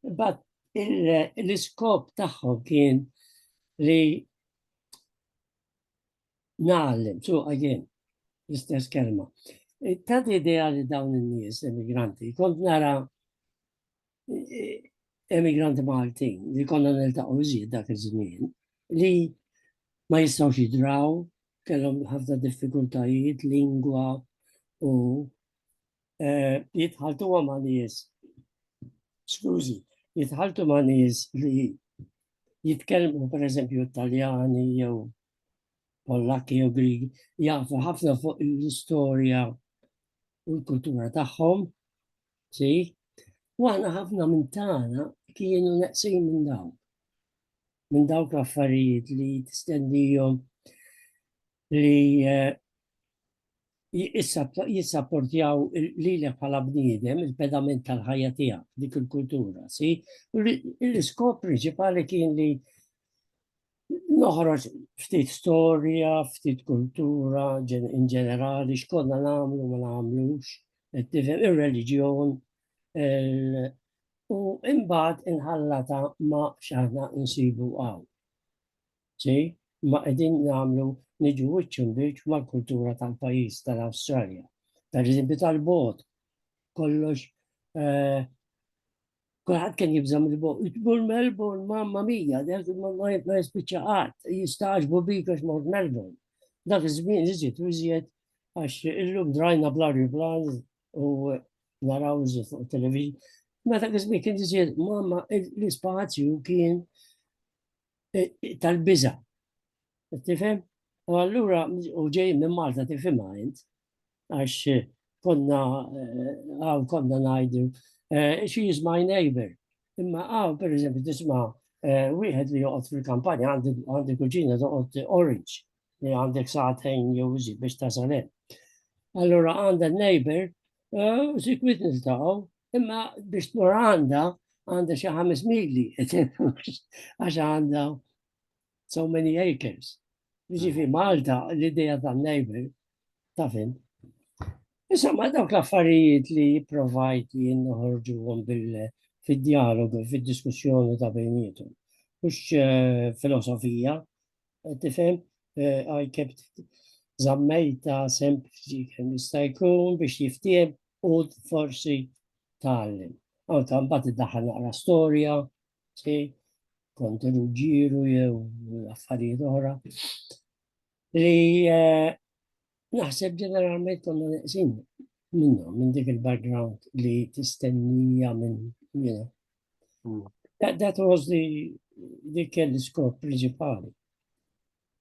But il- l-iskop tagħhom kien li nagħallem, so again, l-istess kelma. Tad idea li dawn in-nies emigranti, kont nara emigranti Malti li konna niltaqgħu iżjed dak iż-żmien li ma jistgħux jidraw, kellhom ħafna diffikultajiet, lingwa u eh, jitħaltu ma' nies. Skużi, jitħaltu ma' nies li jitkellmu per eżempju Italjani jew Pollakki jew Grigi, jafu ħafna fuq l-istorja u l-kultura tagħhom Si, u aħna ħafna minn tagħna kienu neqsin minn dawn. Minn dawk l-affarijiet li tistendijom li eh, jissapportjaw li l bħala bniedem il-pedament tal-ħajja tiegħek dik il-kultura, si? L-iskop principali kien li noħroġ ftit storja, ftit kultura, in ġenerali, xkonna namlu, ma namlux, il-reġjon, u imbagħad inħallata ma xaħna nsibu għaw. Si, ma qegħdin namlu niġu wiċċun biex mal-kultura tal-pajjiż tal-Awstralja. Per eżempju tal-bot, kollox eh, Kulħadd kien jibżam il-bol Melbourne, mamma mija, ma jispiċċa qatt, jistaġbu bik għax mort Melbourne. Dak iż-żmien iżjed u iżjed għax illum drajna bla riblan u naraw iżjed fuq television. Ma dak iż-żmien kien iżjed mamma l-ispazju kien eh, tal-biża. Tifhem? U allura u ġej minn Malta tifhimha int għax eh, konna eh, għaw konna ngħidu xi jisma' neighbor. Imma għaw pereżempju tisma' wieħed li joqgħod fil-kampanja għandi kuġina toqgħod orange li għandek saħtejn jew iżid biex tasal hemm. Allura għandha neighbor u sik witness tagħu, imma biex tmur għandha għandha xi ħames mili, għax għandha so many acres. Ġifi Malta l-ideja ta' neighbor ta' fin. Issa ma dawk l-affarijiet li provajt jien noħorġu bil fid-dialogu, fid-diskussjoni ta' bejnietum. Mux eh, filosofija, Tifhem, I kept zammejta sempliċi kemm jista' jkun biex jiftiem u forsi tgħallem. Anka mbagħad iddaħħal naqra storja, si, kont ġiru jew affarijiet oħra li eh, Naħseb ġeneralment konna neqsin minnhom minn dik il-background li tistennija minn jiena. Hmm. That was the li kelli skop principali.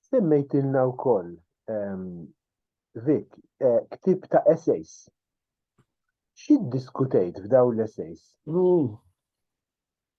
Semmejt ilna u koll, ehm, Vik, eh, ktib ta' essays. Xid diskutejt f'daw l-essays?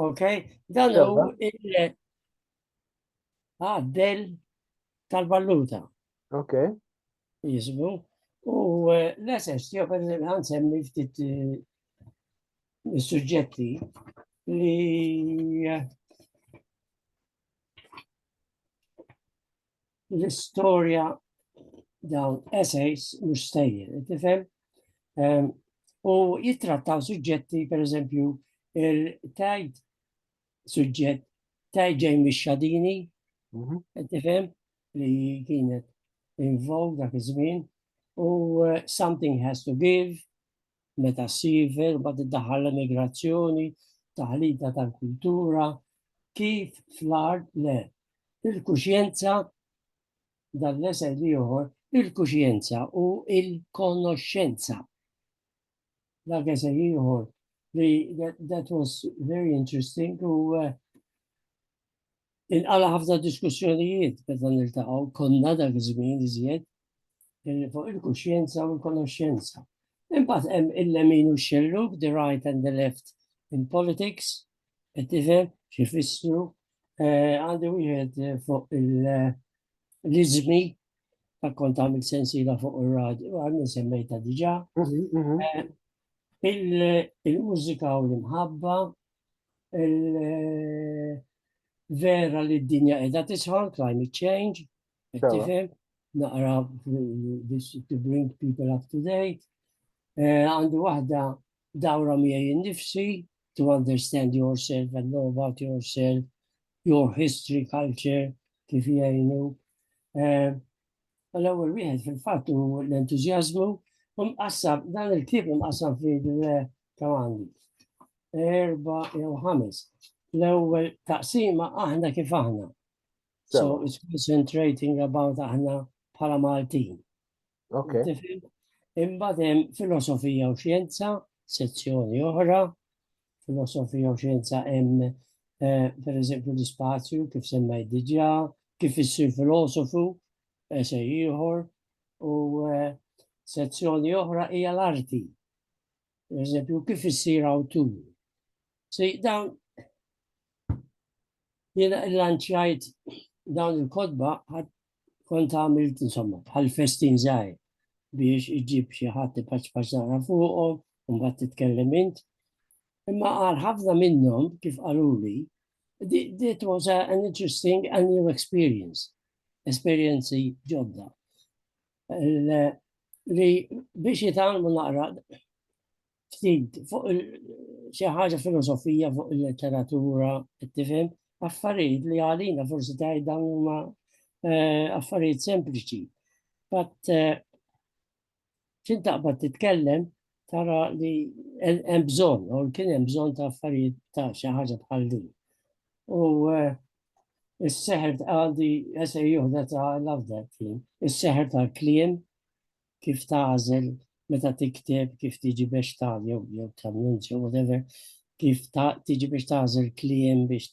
Ok, dan hu il-għaddel ah, tal-valuta. Ok. Jismu. U eh, l-SS, jo per għansemmi ftit eh, suġġetti li eh, l-istorja dawn essays mhux stejjer, tifhem? Ehm, u jittrattaw suġġetti, per eżempju, il-tajt suġġett tajt ġej mix-xadini, mhm. tifhem li kienet involved dak iż-żmien, u eh, something has to give, meta ssiver, mbagħad iddaħħal l-emigrazzjoni, taħlita tal-kultura, kif fl-art le. Il-kuxjenza dan l-esel ieħor, il-kuxjenza u il-konoxxenza. Dak esel ieħor li that, that was very interesting u uh, Inqala ħafna diskussjonijiet meta niltaqgħu konna dak iż-żmien iżjed fuq il-kuxjenza u l-konoxjenza. Imbagħad hemm il-lemin u x-xellug, the right and the left in politics, qed tifhem xi fissru eh, għandi wieħed eh, fuq l-iżmi ta' kont għamil sensila fuq ir-radju, għamil semmejta diġà. Mhm, mhm. Eh, il-mużika u l-imħabba, vera li d-dinja edha tisħan, climate change, tifhem, naqra this to bring people up to date. Eh, għandi waħda dawra miegħi innifsi to understand yourself and know about yourself, your history, culture, kif jgħinu. Eh, U l-ewwel wieħed fil-fatt hu l-entużjażmu u mqassam dan il-ktieb mqassam fi kemm għandi. Erba jew ħames. L-ewwel taqsima aħna kif aħna. So it's concentrating about aħna bħala Maltin. Okay. Imbagħad hemm filosofija u xjenza, sezzjoni oħra, filosofija u xjenza hemm eh, per eżempju l-ispazju kif semmejt diġà, kif issir filosofu, eh, se ieħor, u eh, sezzjoni oħra hija l-arti. Per eżempju, kif issir awtur. Se dawn jiena lanċjajt dawn il-kodba kont għamilt insomma bħal festin żgħir biex iġib xi ħadd ipaċpaċ naqra fuqhom u mbagħad titkellem int. Imma għal ħafna minnhom kif qaluli, it was a, an interesting and new experience, esperjenzi ġodda. Li biex jitalmu naqra ftit fuq xi ħaġa filosofija fuq il-letteratura tifhem affarijiet li għalina forsi tgħid dawn huma eh, affarijiet sempliċi. Bat eh, xint taqbad titkellem tara li hemm bżonn, u kien hemm bżonn ta' affarijiet ta' xi ħaġa bħal din. U eh, is-seħer għandi jesej juħda ta' l-afdal kien, is-seħer tal-kliem kif tagħżel meta tikteb, kif tiġi biex ta' jew jew trammunt jew whatever, kif ta' tiġi biex tagħżel kliem biex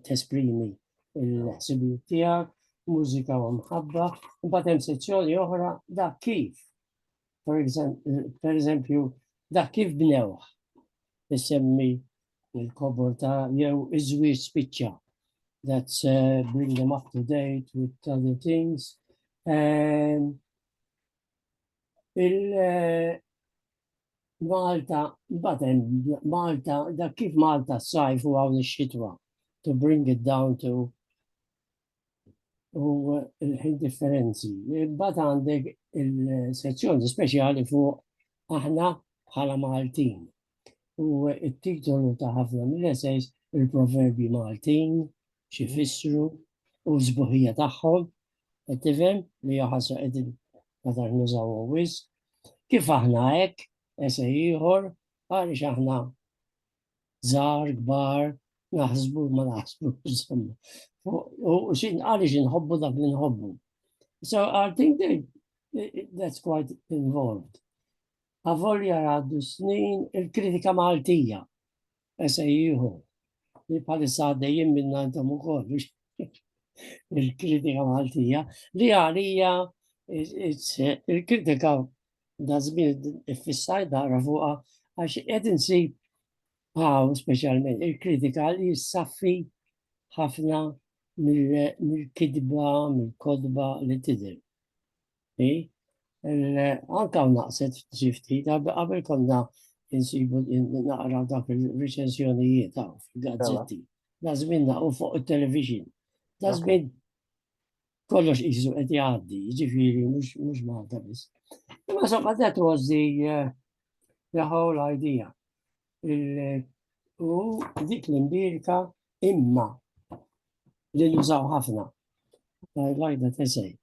tesprimi l-ħsibijiet tiegħek, mużika u mħabba, imbagħad hemm sezzjoni oħra da kif. Per eżempju, da kif bnewh isemmi il-kobor ta' jew iż-żwieġ spiċċa. That's uh, bring them up to date with other things. Um, il uh, Malta, batem, Malta, da kif Malta s-sajf u għawn xitwa to bring it down to u l-ħin differenzi. Imbagħad għandek il-sezzjoni speċjali fuq aħna bħala Maltin. U it-titolu ta' ħafna mill-essays il-proverbi Maltin, xi fissru u l-sbuħija tagħhom, qed tifhem li jaħasra qegħdin madar nużaw wis. Kif aħna hekk, ese ieħor, għaliex aħna żgħar, kbar, naħsbu ma naħsbu, insomma. U xin għaliex inħobbu dak li nħobbu. So I think that that's quite involved. Avolja għaddu snin il-kritika Maltija, SAU, li palissa għaddejjim minna intom u koll, il-kritika Maltija, li għalija il-kritika da żmien iffissaj dara fuqha għax qed insib hawn speċjalment il-kritika li jissaffi ħafna mill-kidba, mill-kodba li tidher. Anka u naqset f'tifti, qabel konna insibu naqra dak il-recensjonijiet għaw fil-gazzetti. Lazmin naqru fuq il-television. Lazmin kollox jizu qed jgħaddi, ġifiri, mhux Malta biss. Imma somma that was the, uh, the whole idea. U dik l-imbirka imma li nużaw ħafna. I like that essay.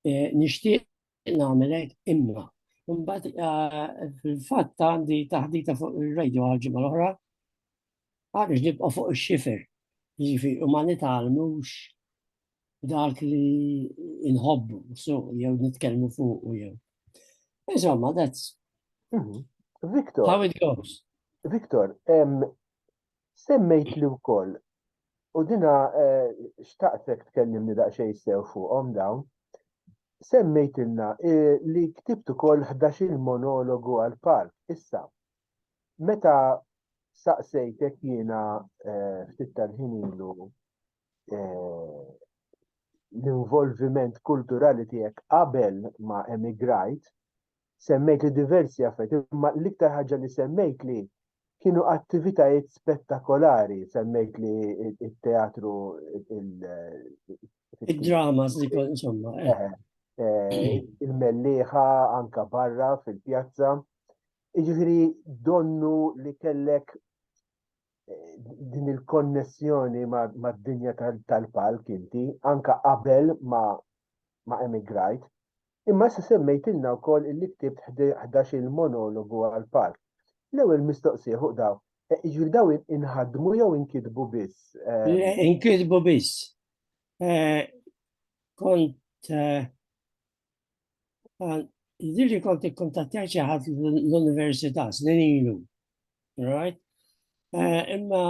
Eh, nixtieq nagħmelek imma. Mbagħad eh, fil-fatt għandi taħdita fuq ir-radio għal-ġimgħa l-oħra Għaliex nibqgħu fuq ix-xifer, jiġifieri u ma nitgħallmux dak li inħobbu suq jew nitkellmu fuq u jew. Insomma, that's mhm. Victor, how it goes. Victor, semmejt li wkoll u dina eh, xtaqtek tkellimni daqsxejn sew fuqhom dawn. Semmejtilna eh, li ktibt ukoll 11 monologu għal park issa. meta saqsejtek jiena eh, ftit tal-ħin ilu eh, l-involviment kulturali tiegħek qabel ma emigrajt, semmejt li diversi affetti, imma l-iktar ħaġa li semmejt li kienu attivitajiet spettakolari, semmejt li il-teatru, il-drama, insomma. Eh. Eh, il-melliħa anka barra fil-pjazza. Jiġifieri donnu li kellek eh, din il-konnessjoni mad-dinja tal-palk inti, anka qabel ma ma emigrajt. Imma issa semmejtilna wkoll illi ktibt 11 il-monologu għal-palk. L-ewwel mistoqsija fuq daw, eh, jiġifieri daw inħadmu jew inkitbu biss? Eh? Inkitbu biss. Kont Dirri kont ikkontattjaj xi ħadd l-università snin ilu. Right? Eh, imma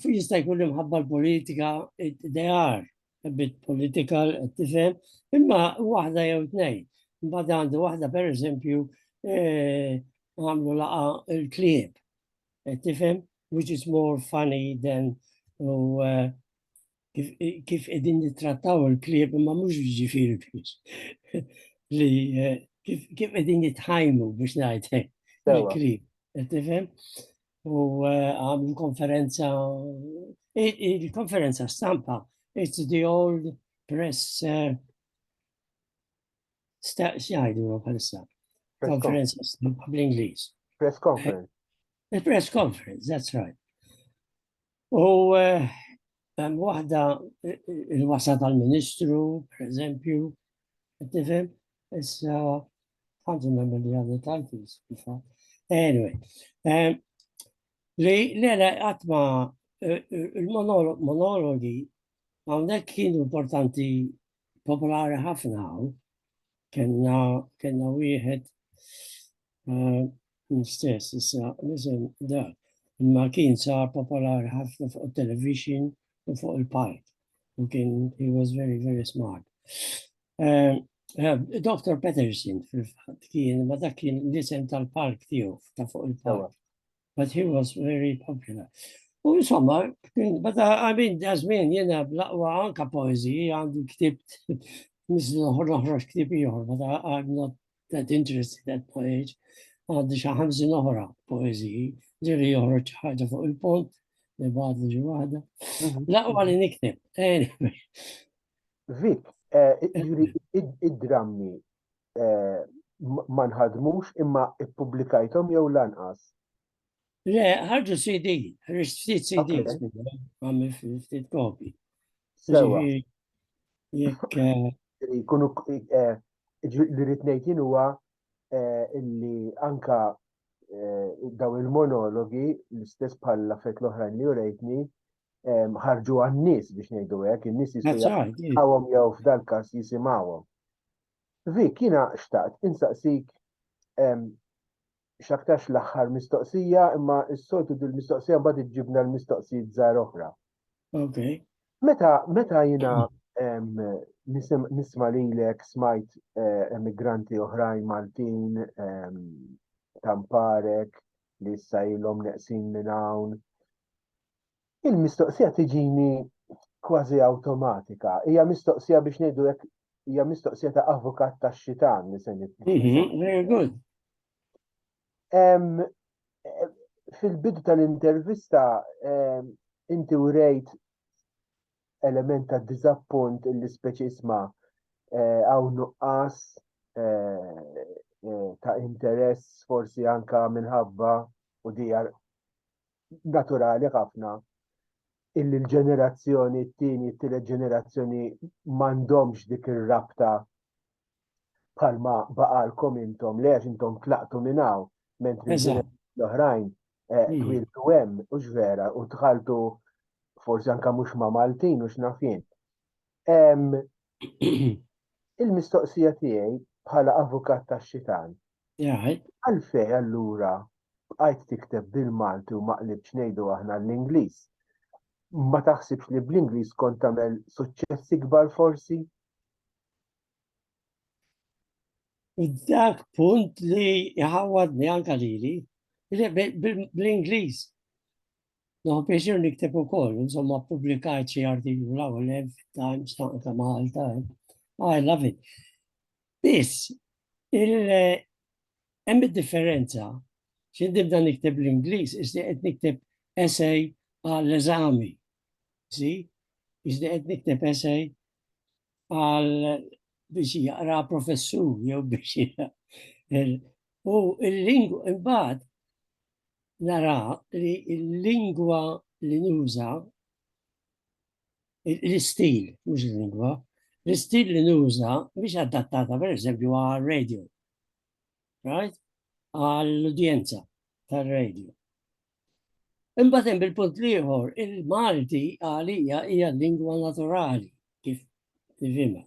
jista' jkun imħabba l-politika they are a bit political tifhem, imma waħda jew tnejn. Mbagħad għandu waħda pereżempju eh, għamlu laqa l-klieb. Tifhem, which is more funny than u eh, kif qegħdin nittrattaw il-klieb ma mhux ġifieri li eh, kif qegħdin jitħajmu biex ngħid il-klieb. Eh, tifhem? U eh, għamlu konferenza il-konferenza stampa it's the old press staqs jgħidu bħalissa. Konferenza stampa bl-Ingliż. Press conference. The press conference, that's right. U hemm waħda il-wasa tal-Ministru, per eżempju, tifhem, issa ħanġu nagħmel li għadha tal-fis, Anyway, li l-għala għatma il-monologi għawnek kienu importanti popolari ħafna għaw, kena wieħed L-istess, issa, l-isem da, imma kien sa popolari ħafna fuq il-television u fuq il-park. U kien, he was very, very smart. Eh, eh, Dr. Peterson, fil-fat, kien, ma dak kien l-isem tal-park tiegħu, ta' fuq il-park. But he was very popular. U insomma, bada għamin dażmin jena blaqwa anka poezi, għandu ktibt, nislu ħroħrox ktib jħor, bada għadna that interested that poet, għaddi xi ħamsin oħra poeżiji, ġiri joħroġ ħaġa fuq il-pont, li bad li ġuħada. Mhm. Laqwa li nikteb. Vik, eh, id-drammi eh, ma nħadmux imma ippubblikajthom jew lanqas. Le, ħarġu CD, ħarġu ftit CD, għamil ftit kopi. Jekk. Eh, li rrid ngħid jien huwa eh, illi anka eh, daw il-monologi l-istess bħal affett l-oħrajn li urejtni ehm, ħarġu għan-nies biex ngħidu hekk, in-nies jistgħu jew f'dal-każ jisimgħuhom. Vik, jiena xtaqt insaqsik ehm, x'aktarx l-aħħar mistoqsija, imma s-soltu dil-mistoqsija mbagħad iġġibna l-mistoqsijiet żgħar oħra. Okay. Meta meta jiena nisma lilek smajt eh, emigranti oħrajn Maltin tamparek li issa ilhom neqsin minn hawn Il-mistoqsija tiġini kważi awtomatika. Hija mistoqsija biex ngħidu hekk hija mistoqsija ta' avukat ta' xitan li se mhm, Fil-bidu tal-intervista inti urejt element ta' diżappunt li speċi isma' eh, hawn nuqqas eh, eh, ta' interess forsi anka minħabba u dijar naturali ħafna illi l-ġenerazzjoni t-tieni, t-tielet ġenerazzjoni m'għandhomx dik ir-rabta bħalma baqalkom intom, li għax intom tlaqtu minn hawn, mentri l-oħrajn eh, hmm. twiltu hemm u vera u tħaltu forsi anka mhux ma' Maltin u x'nafien. Il-mistoqsija tiegħi bħala avukat tax-xitan. Għalfej allura bqajt tikteb bil-Malti u maqlibx ngħidu aħna l-Ingliż. Ma taħsibx li bl-Ingliż kont tagħmel suċċessi kbar forsi? Dak punt li jħawadni anka lili, bl-Ingliż No, pieċir nikteb u koll, insomma, publikajt xie artiklu la u lev, Times, ta' Malta, I love it. Biss, il-hemm eh, differenza xie dibda nikteb l-Inglis, iżdi qed nikteb essay għall-eżami. Si, iżdi qed nikteb essay għal biex jaqra professur, jew biex U il-lingwa, imbagħad, nara li l-lingwa li nuża, l-istil, mhux il-lingwa, l-istil li nuża biex adattata per eżempju għal radio, right? Għall-udjenza tal-radio. Imbagħad hemm il-punt liħor, il-Malti għalija hija lingwa naturali kif tifhimha.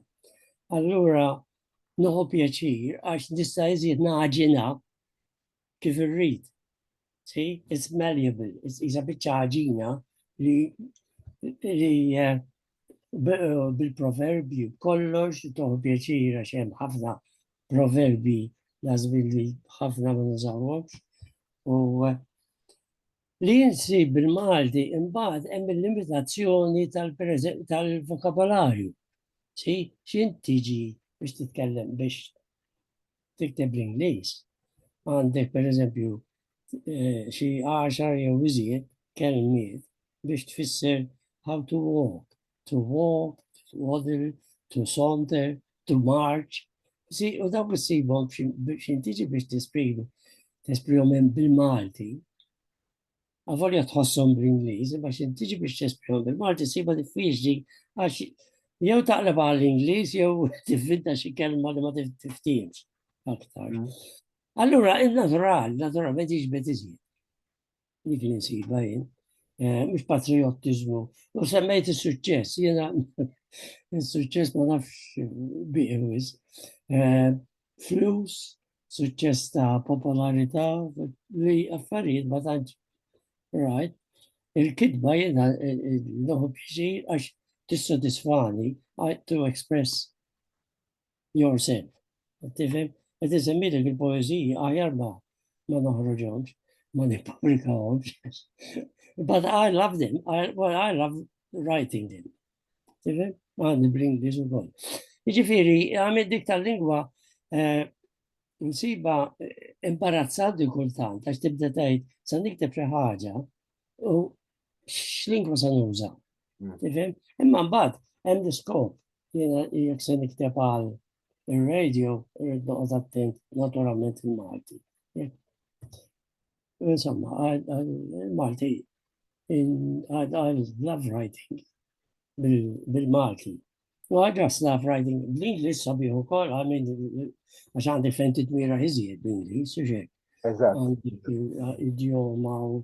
Allura noħu pjaċir għax nista' iżjed naġina kif irrid. See, it's malleable, it's isa biċċa ħaġina li li eh, eh, bil-proverbi kollox toħu pjaċira xem ħafna proverbi lazmin li ħafna ma nużawhomx. U eh, li jinsi bil-Malti imbagħad hemm il-limitazzjoni tal-vokabolarju. Si, xin tiġi biex titkellem biex tikteb l-Ingliż, għandek per eżempju eh, xi għaxar jew iżjed kelmiet biex tfisser how to walk, to walk, to waddle, to saunter, to march. Si, u dawk issibhom x'intiġi biex tesprimu, tesprihom bil-Malti. Avolja tħossom bl-Ingliż, imma xi tiġi biex tesprihom bil-Malti siba diffiċli għax jew taqleb għal Ingliż jew tivvinta xi kelma li ma tiftiemx aktar. Mm. Allura, il-natural, naturalment iġbet iżjed. Dik li nsiba jien, eh, mhux patriottiżmu. U semmejt is-suċċess, jiena is-suċċess ma nafx biqwis. Eh, flus, suċċess ta' popolarità, li affarijiet ma tantx rajt. Il-kitba jiena l-loħu pjaċir għax tissodisfani to express yourself. Tifhem? Qed iżemmilek il-poeżiji għajar ma ma noħroġhomx, ma nippubblikahomx. But I love them, I, well, I love writing them. Tifhem? Għadni bl-Ingliż ukoll. Jiġifieri għamil dik tal-lingwa eh, nsiba eh, imbarazzanti kultant għax tibda tgħid sa nikteb xi ħaġa u x'lingwa se nuża. Mm. Tifhem? Imma mbagħad hemm diskop jiena jekk se nikteb għal ir-radio irid noqgħod attent naturalment il-Malti. Insomma, il-Malti għal love writing bil-Malti. U għadra love writing bl-Inglis sabiħu kol għamil għax għandi fenti t-mira iżjed bl-Inglis, uġek. Idioma u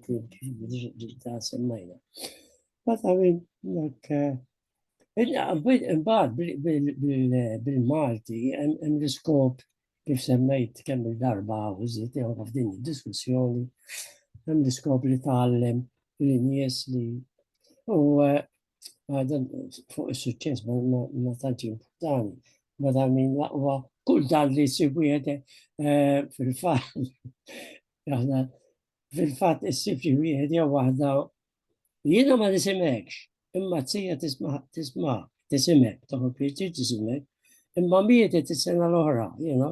ta' semmajna. But I mean, like, uh, Imbagħad bil-Malti hemm l-iskop Kif semmejt kemm il-darba u żied ieħor f'din id-diskussjoni, hemm l-iskop li tgħallem li nies li u għadan fuq il-suċċess ma tantx importani, ma ta' min laqwa kull dan li jsib wieħed eh, fil-fatt. Aħna fil-fatt issib xi wieħed jew waħda Jiena ma nisimekx, imma t-sija tisma, tisma, tisimek, taħu pieċi tisimek, imma mietet is-sena l-oħra, jiena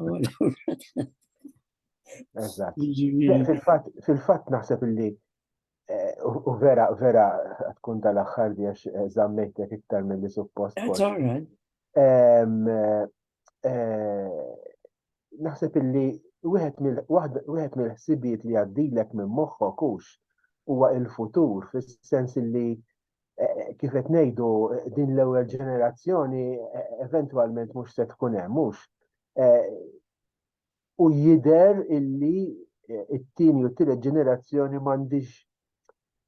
Fil-fatt naħseb illi eh, u vera, vera tkun tal-axħar biex eh, zammejtek iktar mill-li suppost. eh, naħseb illi wieħed mill-ħsibiet li għaddilek minn moħħok hux huwa il-futur fis-sens illi eh, kif qed ngħidu din l-ewwel ġenerazzjoni eh, eventwalment mhux se tkun hemm mhux. u jidher illi it-tieni u t-tielet ġenerazzjoni m'għandix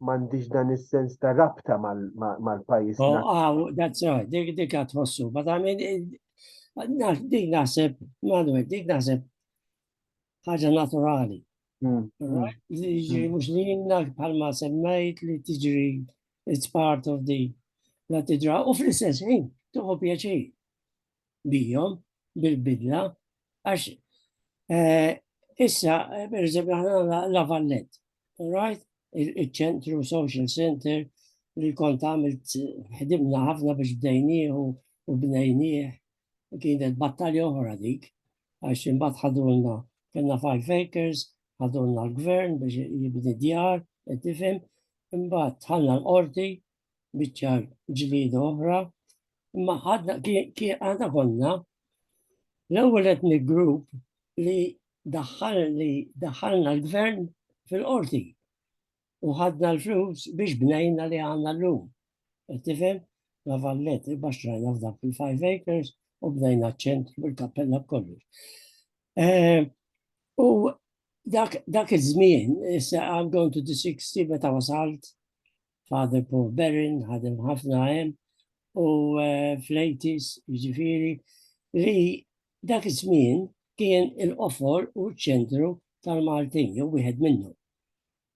m'għandix dan is-sens ta' rabta mal-pajjiż. Oh, ah, that's right, dik dik għad tħossu, but I mean, dik naħseb, Manuel, dik naħseb ħaġa naturali. Hmm. Jiġri mux hmm. li jinna bħalma semmejt li tiġri it's part of the la tiġra u fl-istess ħin tuħu pjaċir. bihom bil-bidla għax eh, issa per eżempju aħna la Vallet, right? Il-ċentru social center li kont għamilt ħdimna ħafna biex bdejnieh u bnejnieh kienet battalja oħra dik għax imbagħad ħadulna kellna five acres, ħadulna l-gvern biex jibni djar, qed tifhem, imbagħad ħalla l-qorti biċċar ġlieda oħra, imma għadna għadna konna l-ewwel etni grupp li daħħal li daħħalna l-gvern fil-qorti u ħadna l-flus biex bnejna li għanna l-lum. Tifem, la vallet, baxtrajna f'dak fil-5 acres u bnejna ċentru bil-kappella b'kollox. Eh, u dak iż-żmien, issa I'm going to the 60 meta wasalt, Father Paul Berrin, ħadem ħafna hemm, u eh, Flejtis, ġifiri, li dak iż-żmien kien il-qofor u ċ-ċentru tal-Maltin, jew wieħed minnu.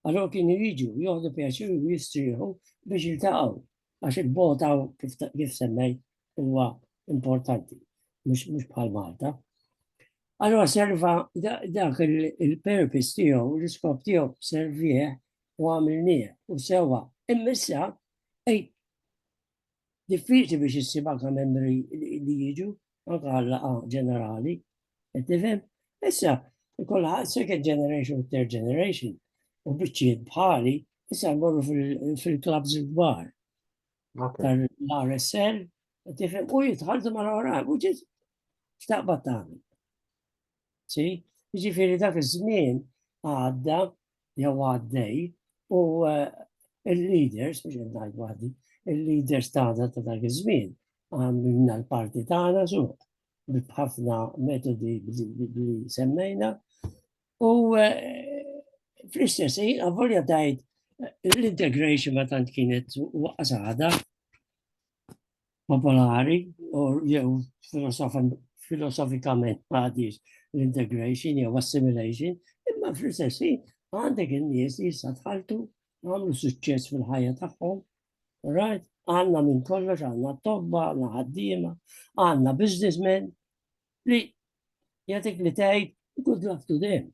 Allora kien jiġu joħdu pjaċir u jistrieħu biex jiltaqgħu għax il-bota kif semmej huwa importanti, mhux bħal Malta. Allora serva dak il-purpose tiegħu, l-iskop tiegħu servieħ u għamilnieh u sewwa. Imma issa diffiċli biex issib anka membri li jiġu, anka għallaqa ġenerali, qed tifhem? Issa, kollha second generation u third generation, u biċċiet bħali, issa mmorru fil-klabs il-kbar. Tal-RSL, qed tifhem u jitħaltu ma' l-ora, u ġiet xtaqba tagħmel. Si, jiġifieri dak iż-żmien għadda jew għaddej u eh, il-leaders, biex ngħid waħdi, il-leaders tagħna ta' dak iż-żmien għamilna l-parti tagħna suq b'ħafna metodi li semmejna u eh, fl-istess ħin avolja tgħid eh, l-integration ma tant kienet waqas għada popolari u jew filosofikament għadis l-integration jew assimilation, imma fl-istess għandek in-nies li jista' tħaltu għamlu suċċess fil-ħajja tagħhom. Right? Għandna minn kollox, għandna tobba, għandna ħaddiema, għandna businessmen li jagħtik li tgħid good luck to them.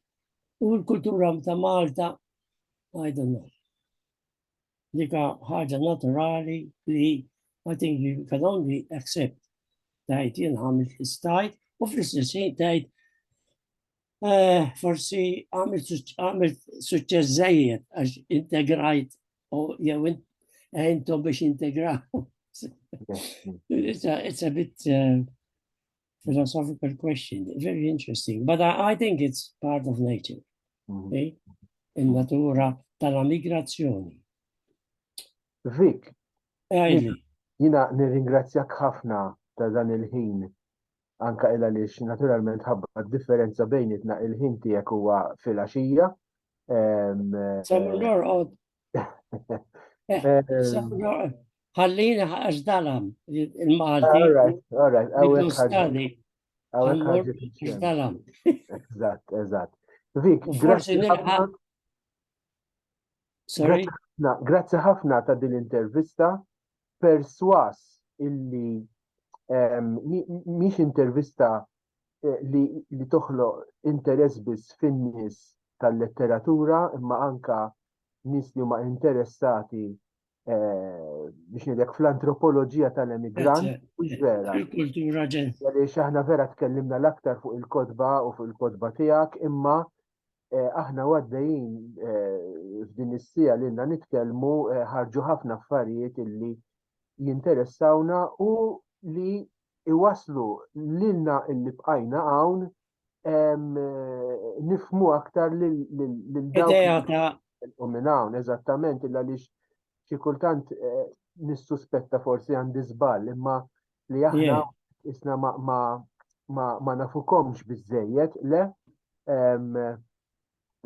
U l-kultura ta' Malta, I don't know. Dika ħaġa naturali li I think you can only accept tajt jien għamil istajt u fl-istess ħin tajt eh, forsi għamil suċċess żejjed għax integrajt u jew intom biex integraw. It's a bit eh, philosophical question, very interesting, but I, I think it's part of nature. Mm. Okay? Il-natura tal-migrazzjoni. Vik, jina nirringrazzjak ħafna ta' dan il-ħin anka il għaliex naturalment ħabba differenza bejnietna il-ħin tiegħek huwa fil-għaxija. Ehm, Sa eh, norqod Ħallina għax dalam il-Malti. All right, all right. Eżatt, eżatt. Vik, grazzi ħafna. Sorry. Grazzi ħafna ta' din l-intervista. Perswas illi miex intervista eh, li, li toħloq interess biss fin-nies tal-letteratura imma anka nies li huma interessati eh, biex nidek fl-antropoloġija tal-emigrant u vera. Il-kultura ġen. Għaliex aħna vera tkellimna l-aktar fuq il-kodba u fuq il-kodba tiegħek imma Eh, aħna għaddejjin eh, f'din is-sija li għandna nitkellmu eh, ħarġu ħafna affarijiet illi jinteressawna u li iwasslu lilna illi bqajna hawn nifmu aktar lil dawk minn hawn, eżattament, illa li xi kultant eh, nissuspetta forsi għandi żball, imma li aħna isna ma nafukomx biżejjed, le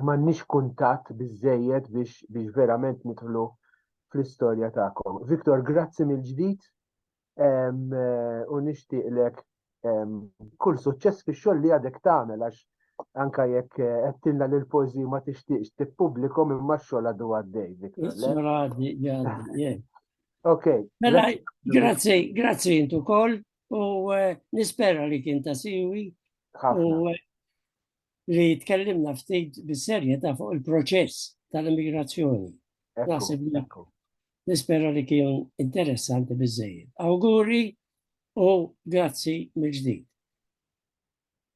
m'għandniex kuntatt biżejjed biex verament nidħlu fl-istorja tagħkom. Viktor, grazzi mill-ġdid u nixtieqlek kull suċċess fix-xogħol li għadek tagħmel għax anka jekk qedtilna li l-poeżiji ma tixtieqx tippubblikom imma x-xogħol għadu għaddej. Ok. Mela, grazzi, grazzi intu kol u nispera li kien ta' siwi u li tkellimna ftit bis-serjetà fuq il-proċess tal-immigrazzjoni. Naħseb Nispera li kien interessanti biżżejjed. Awguri u grazzi mill-ġdid.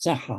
Saħħa.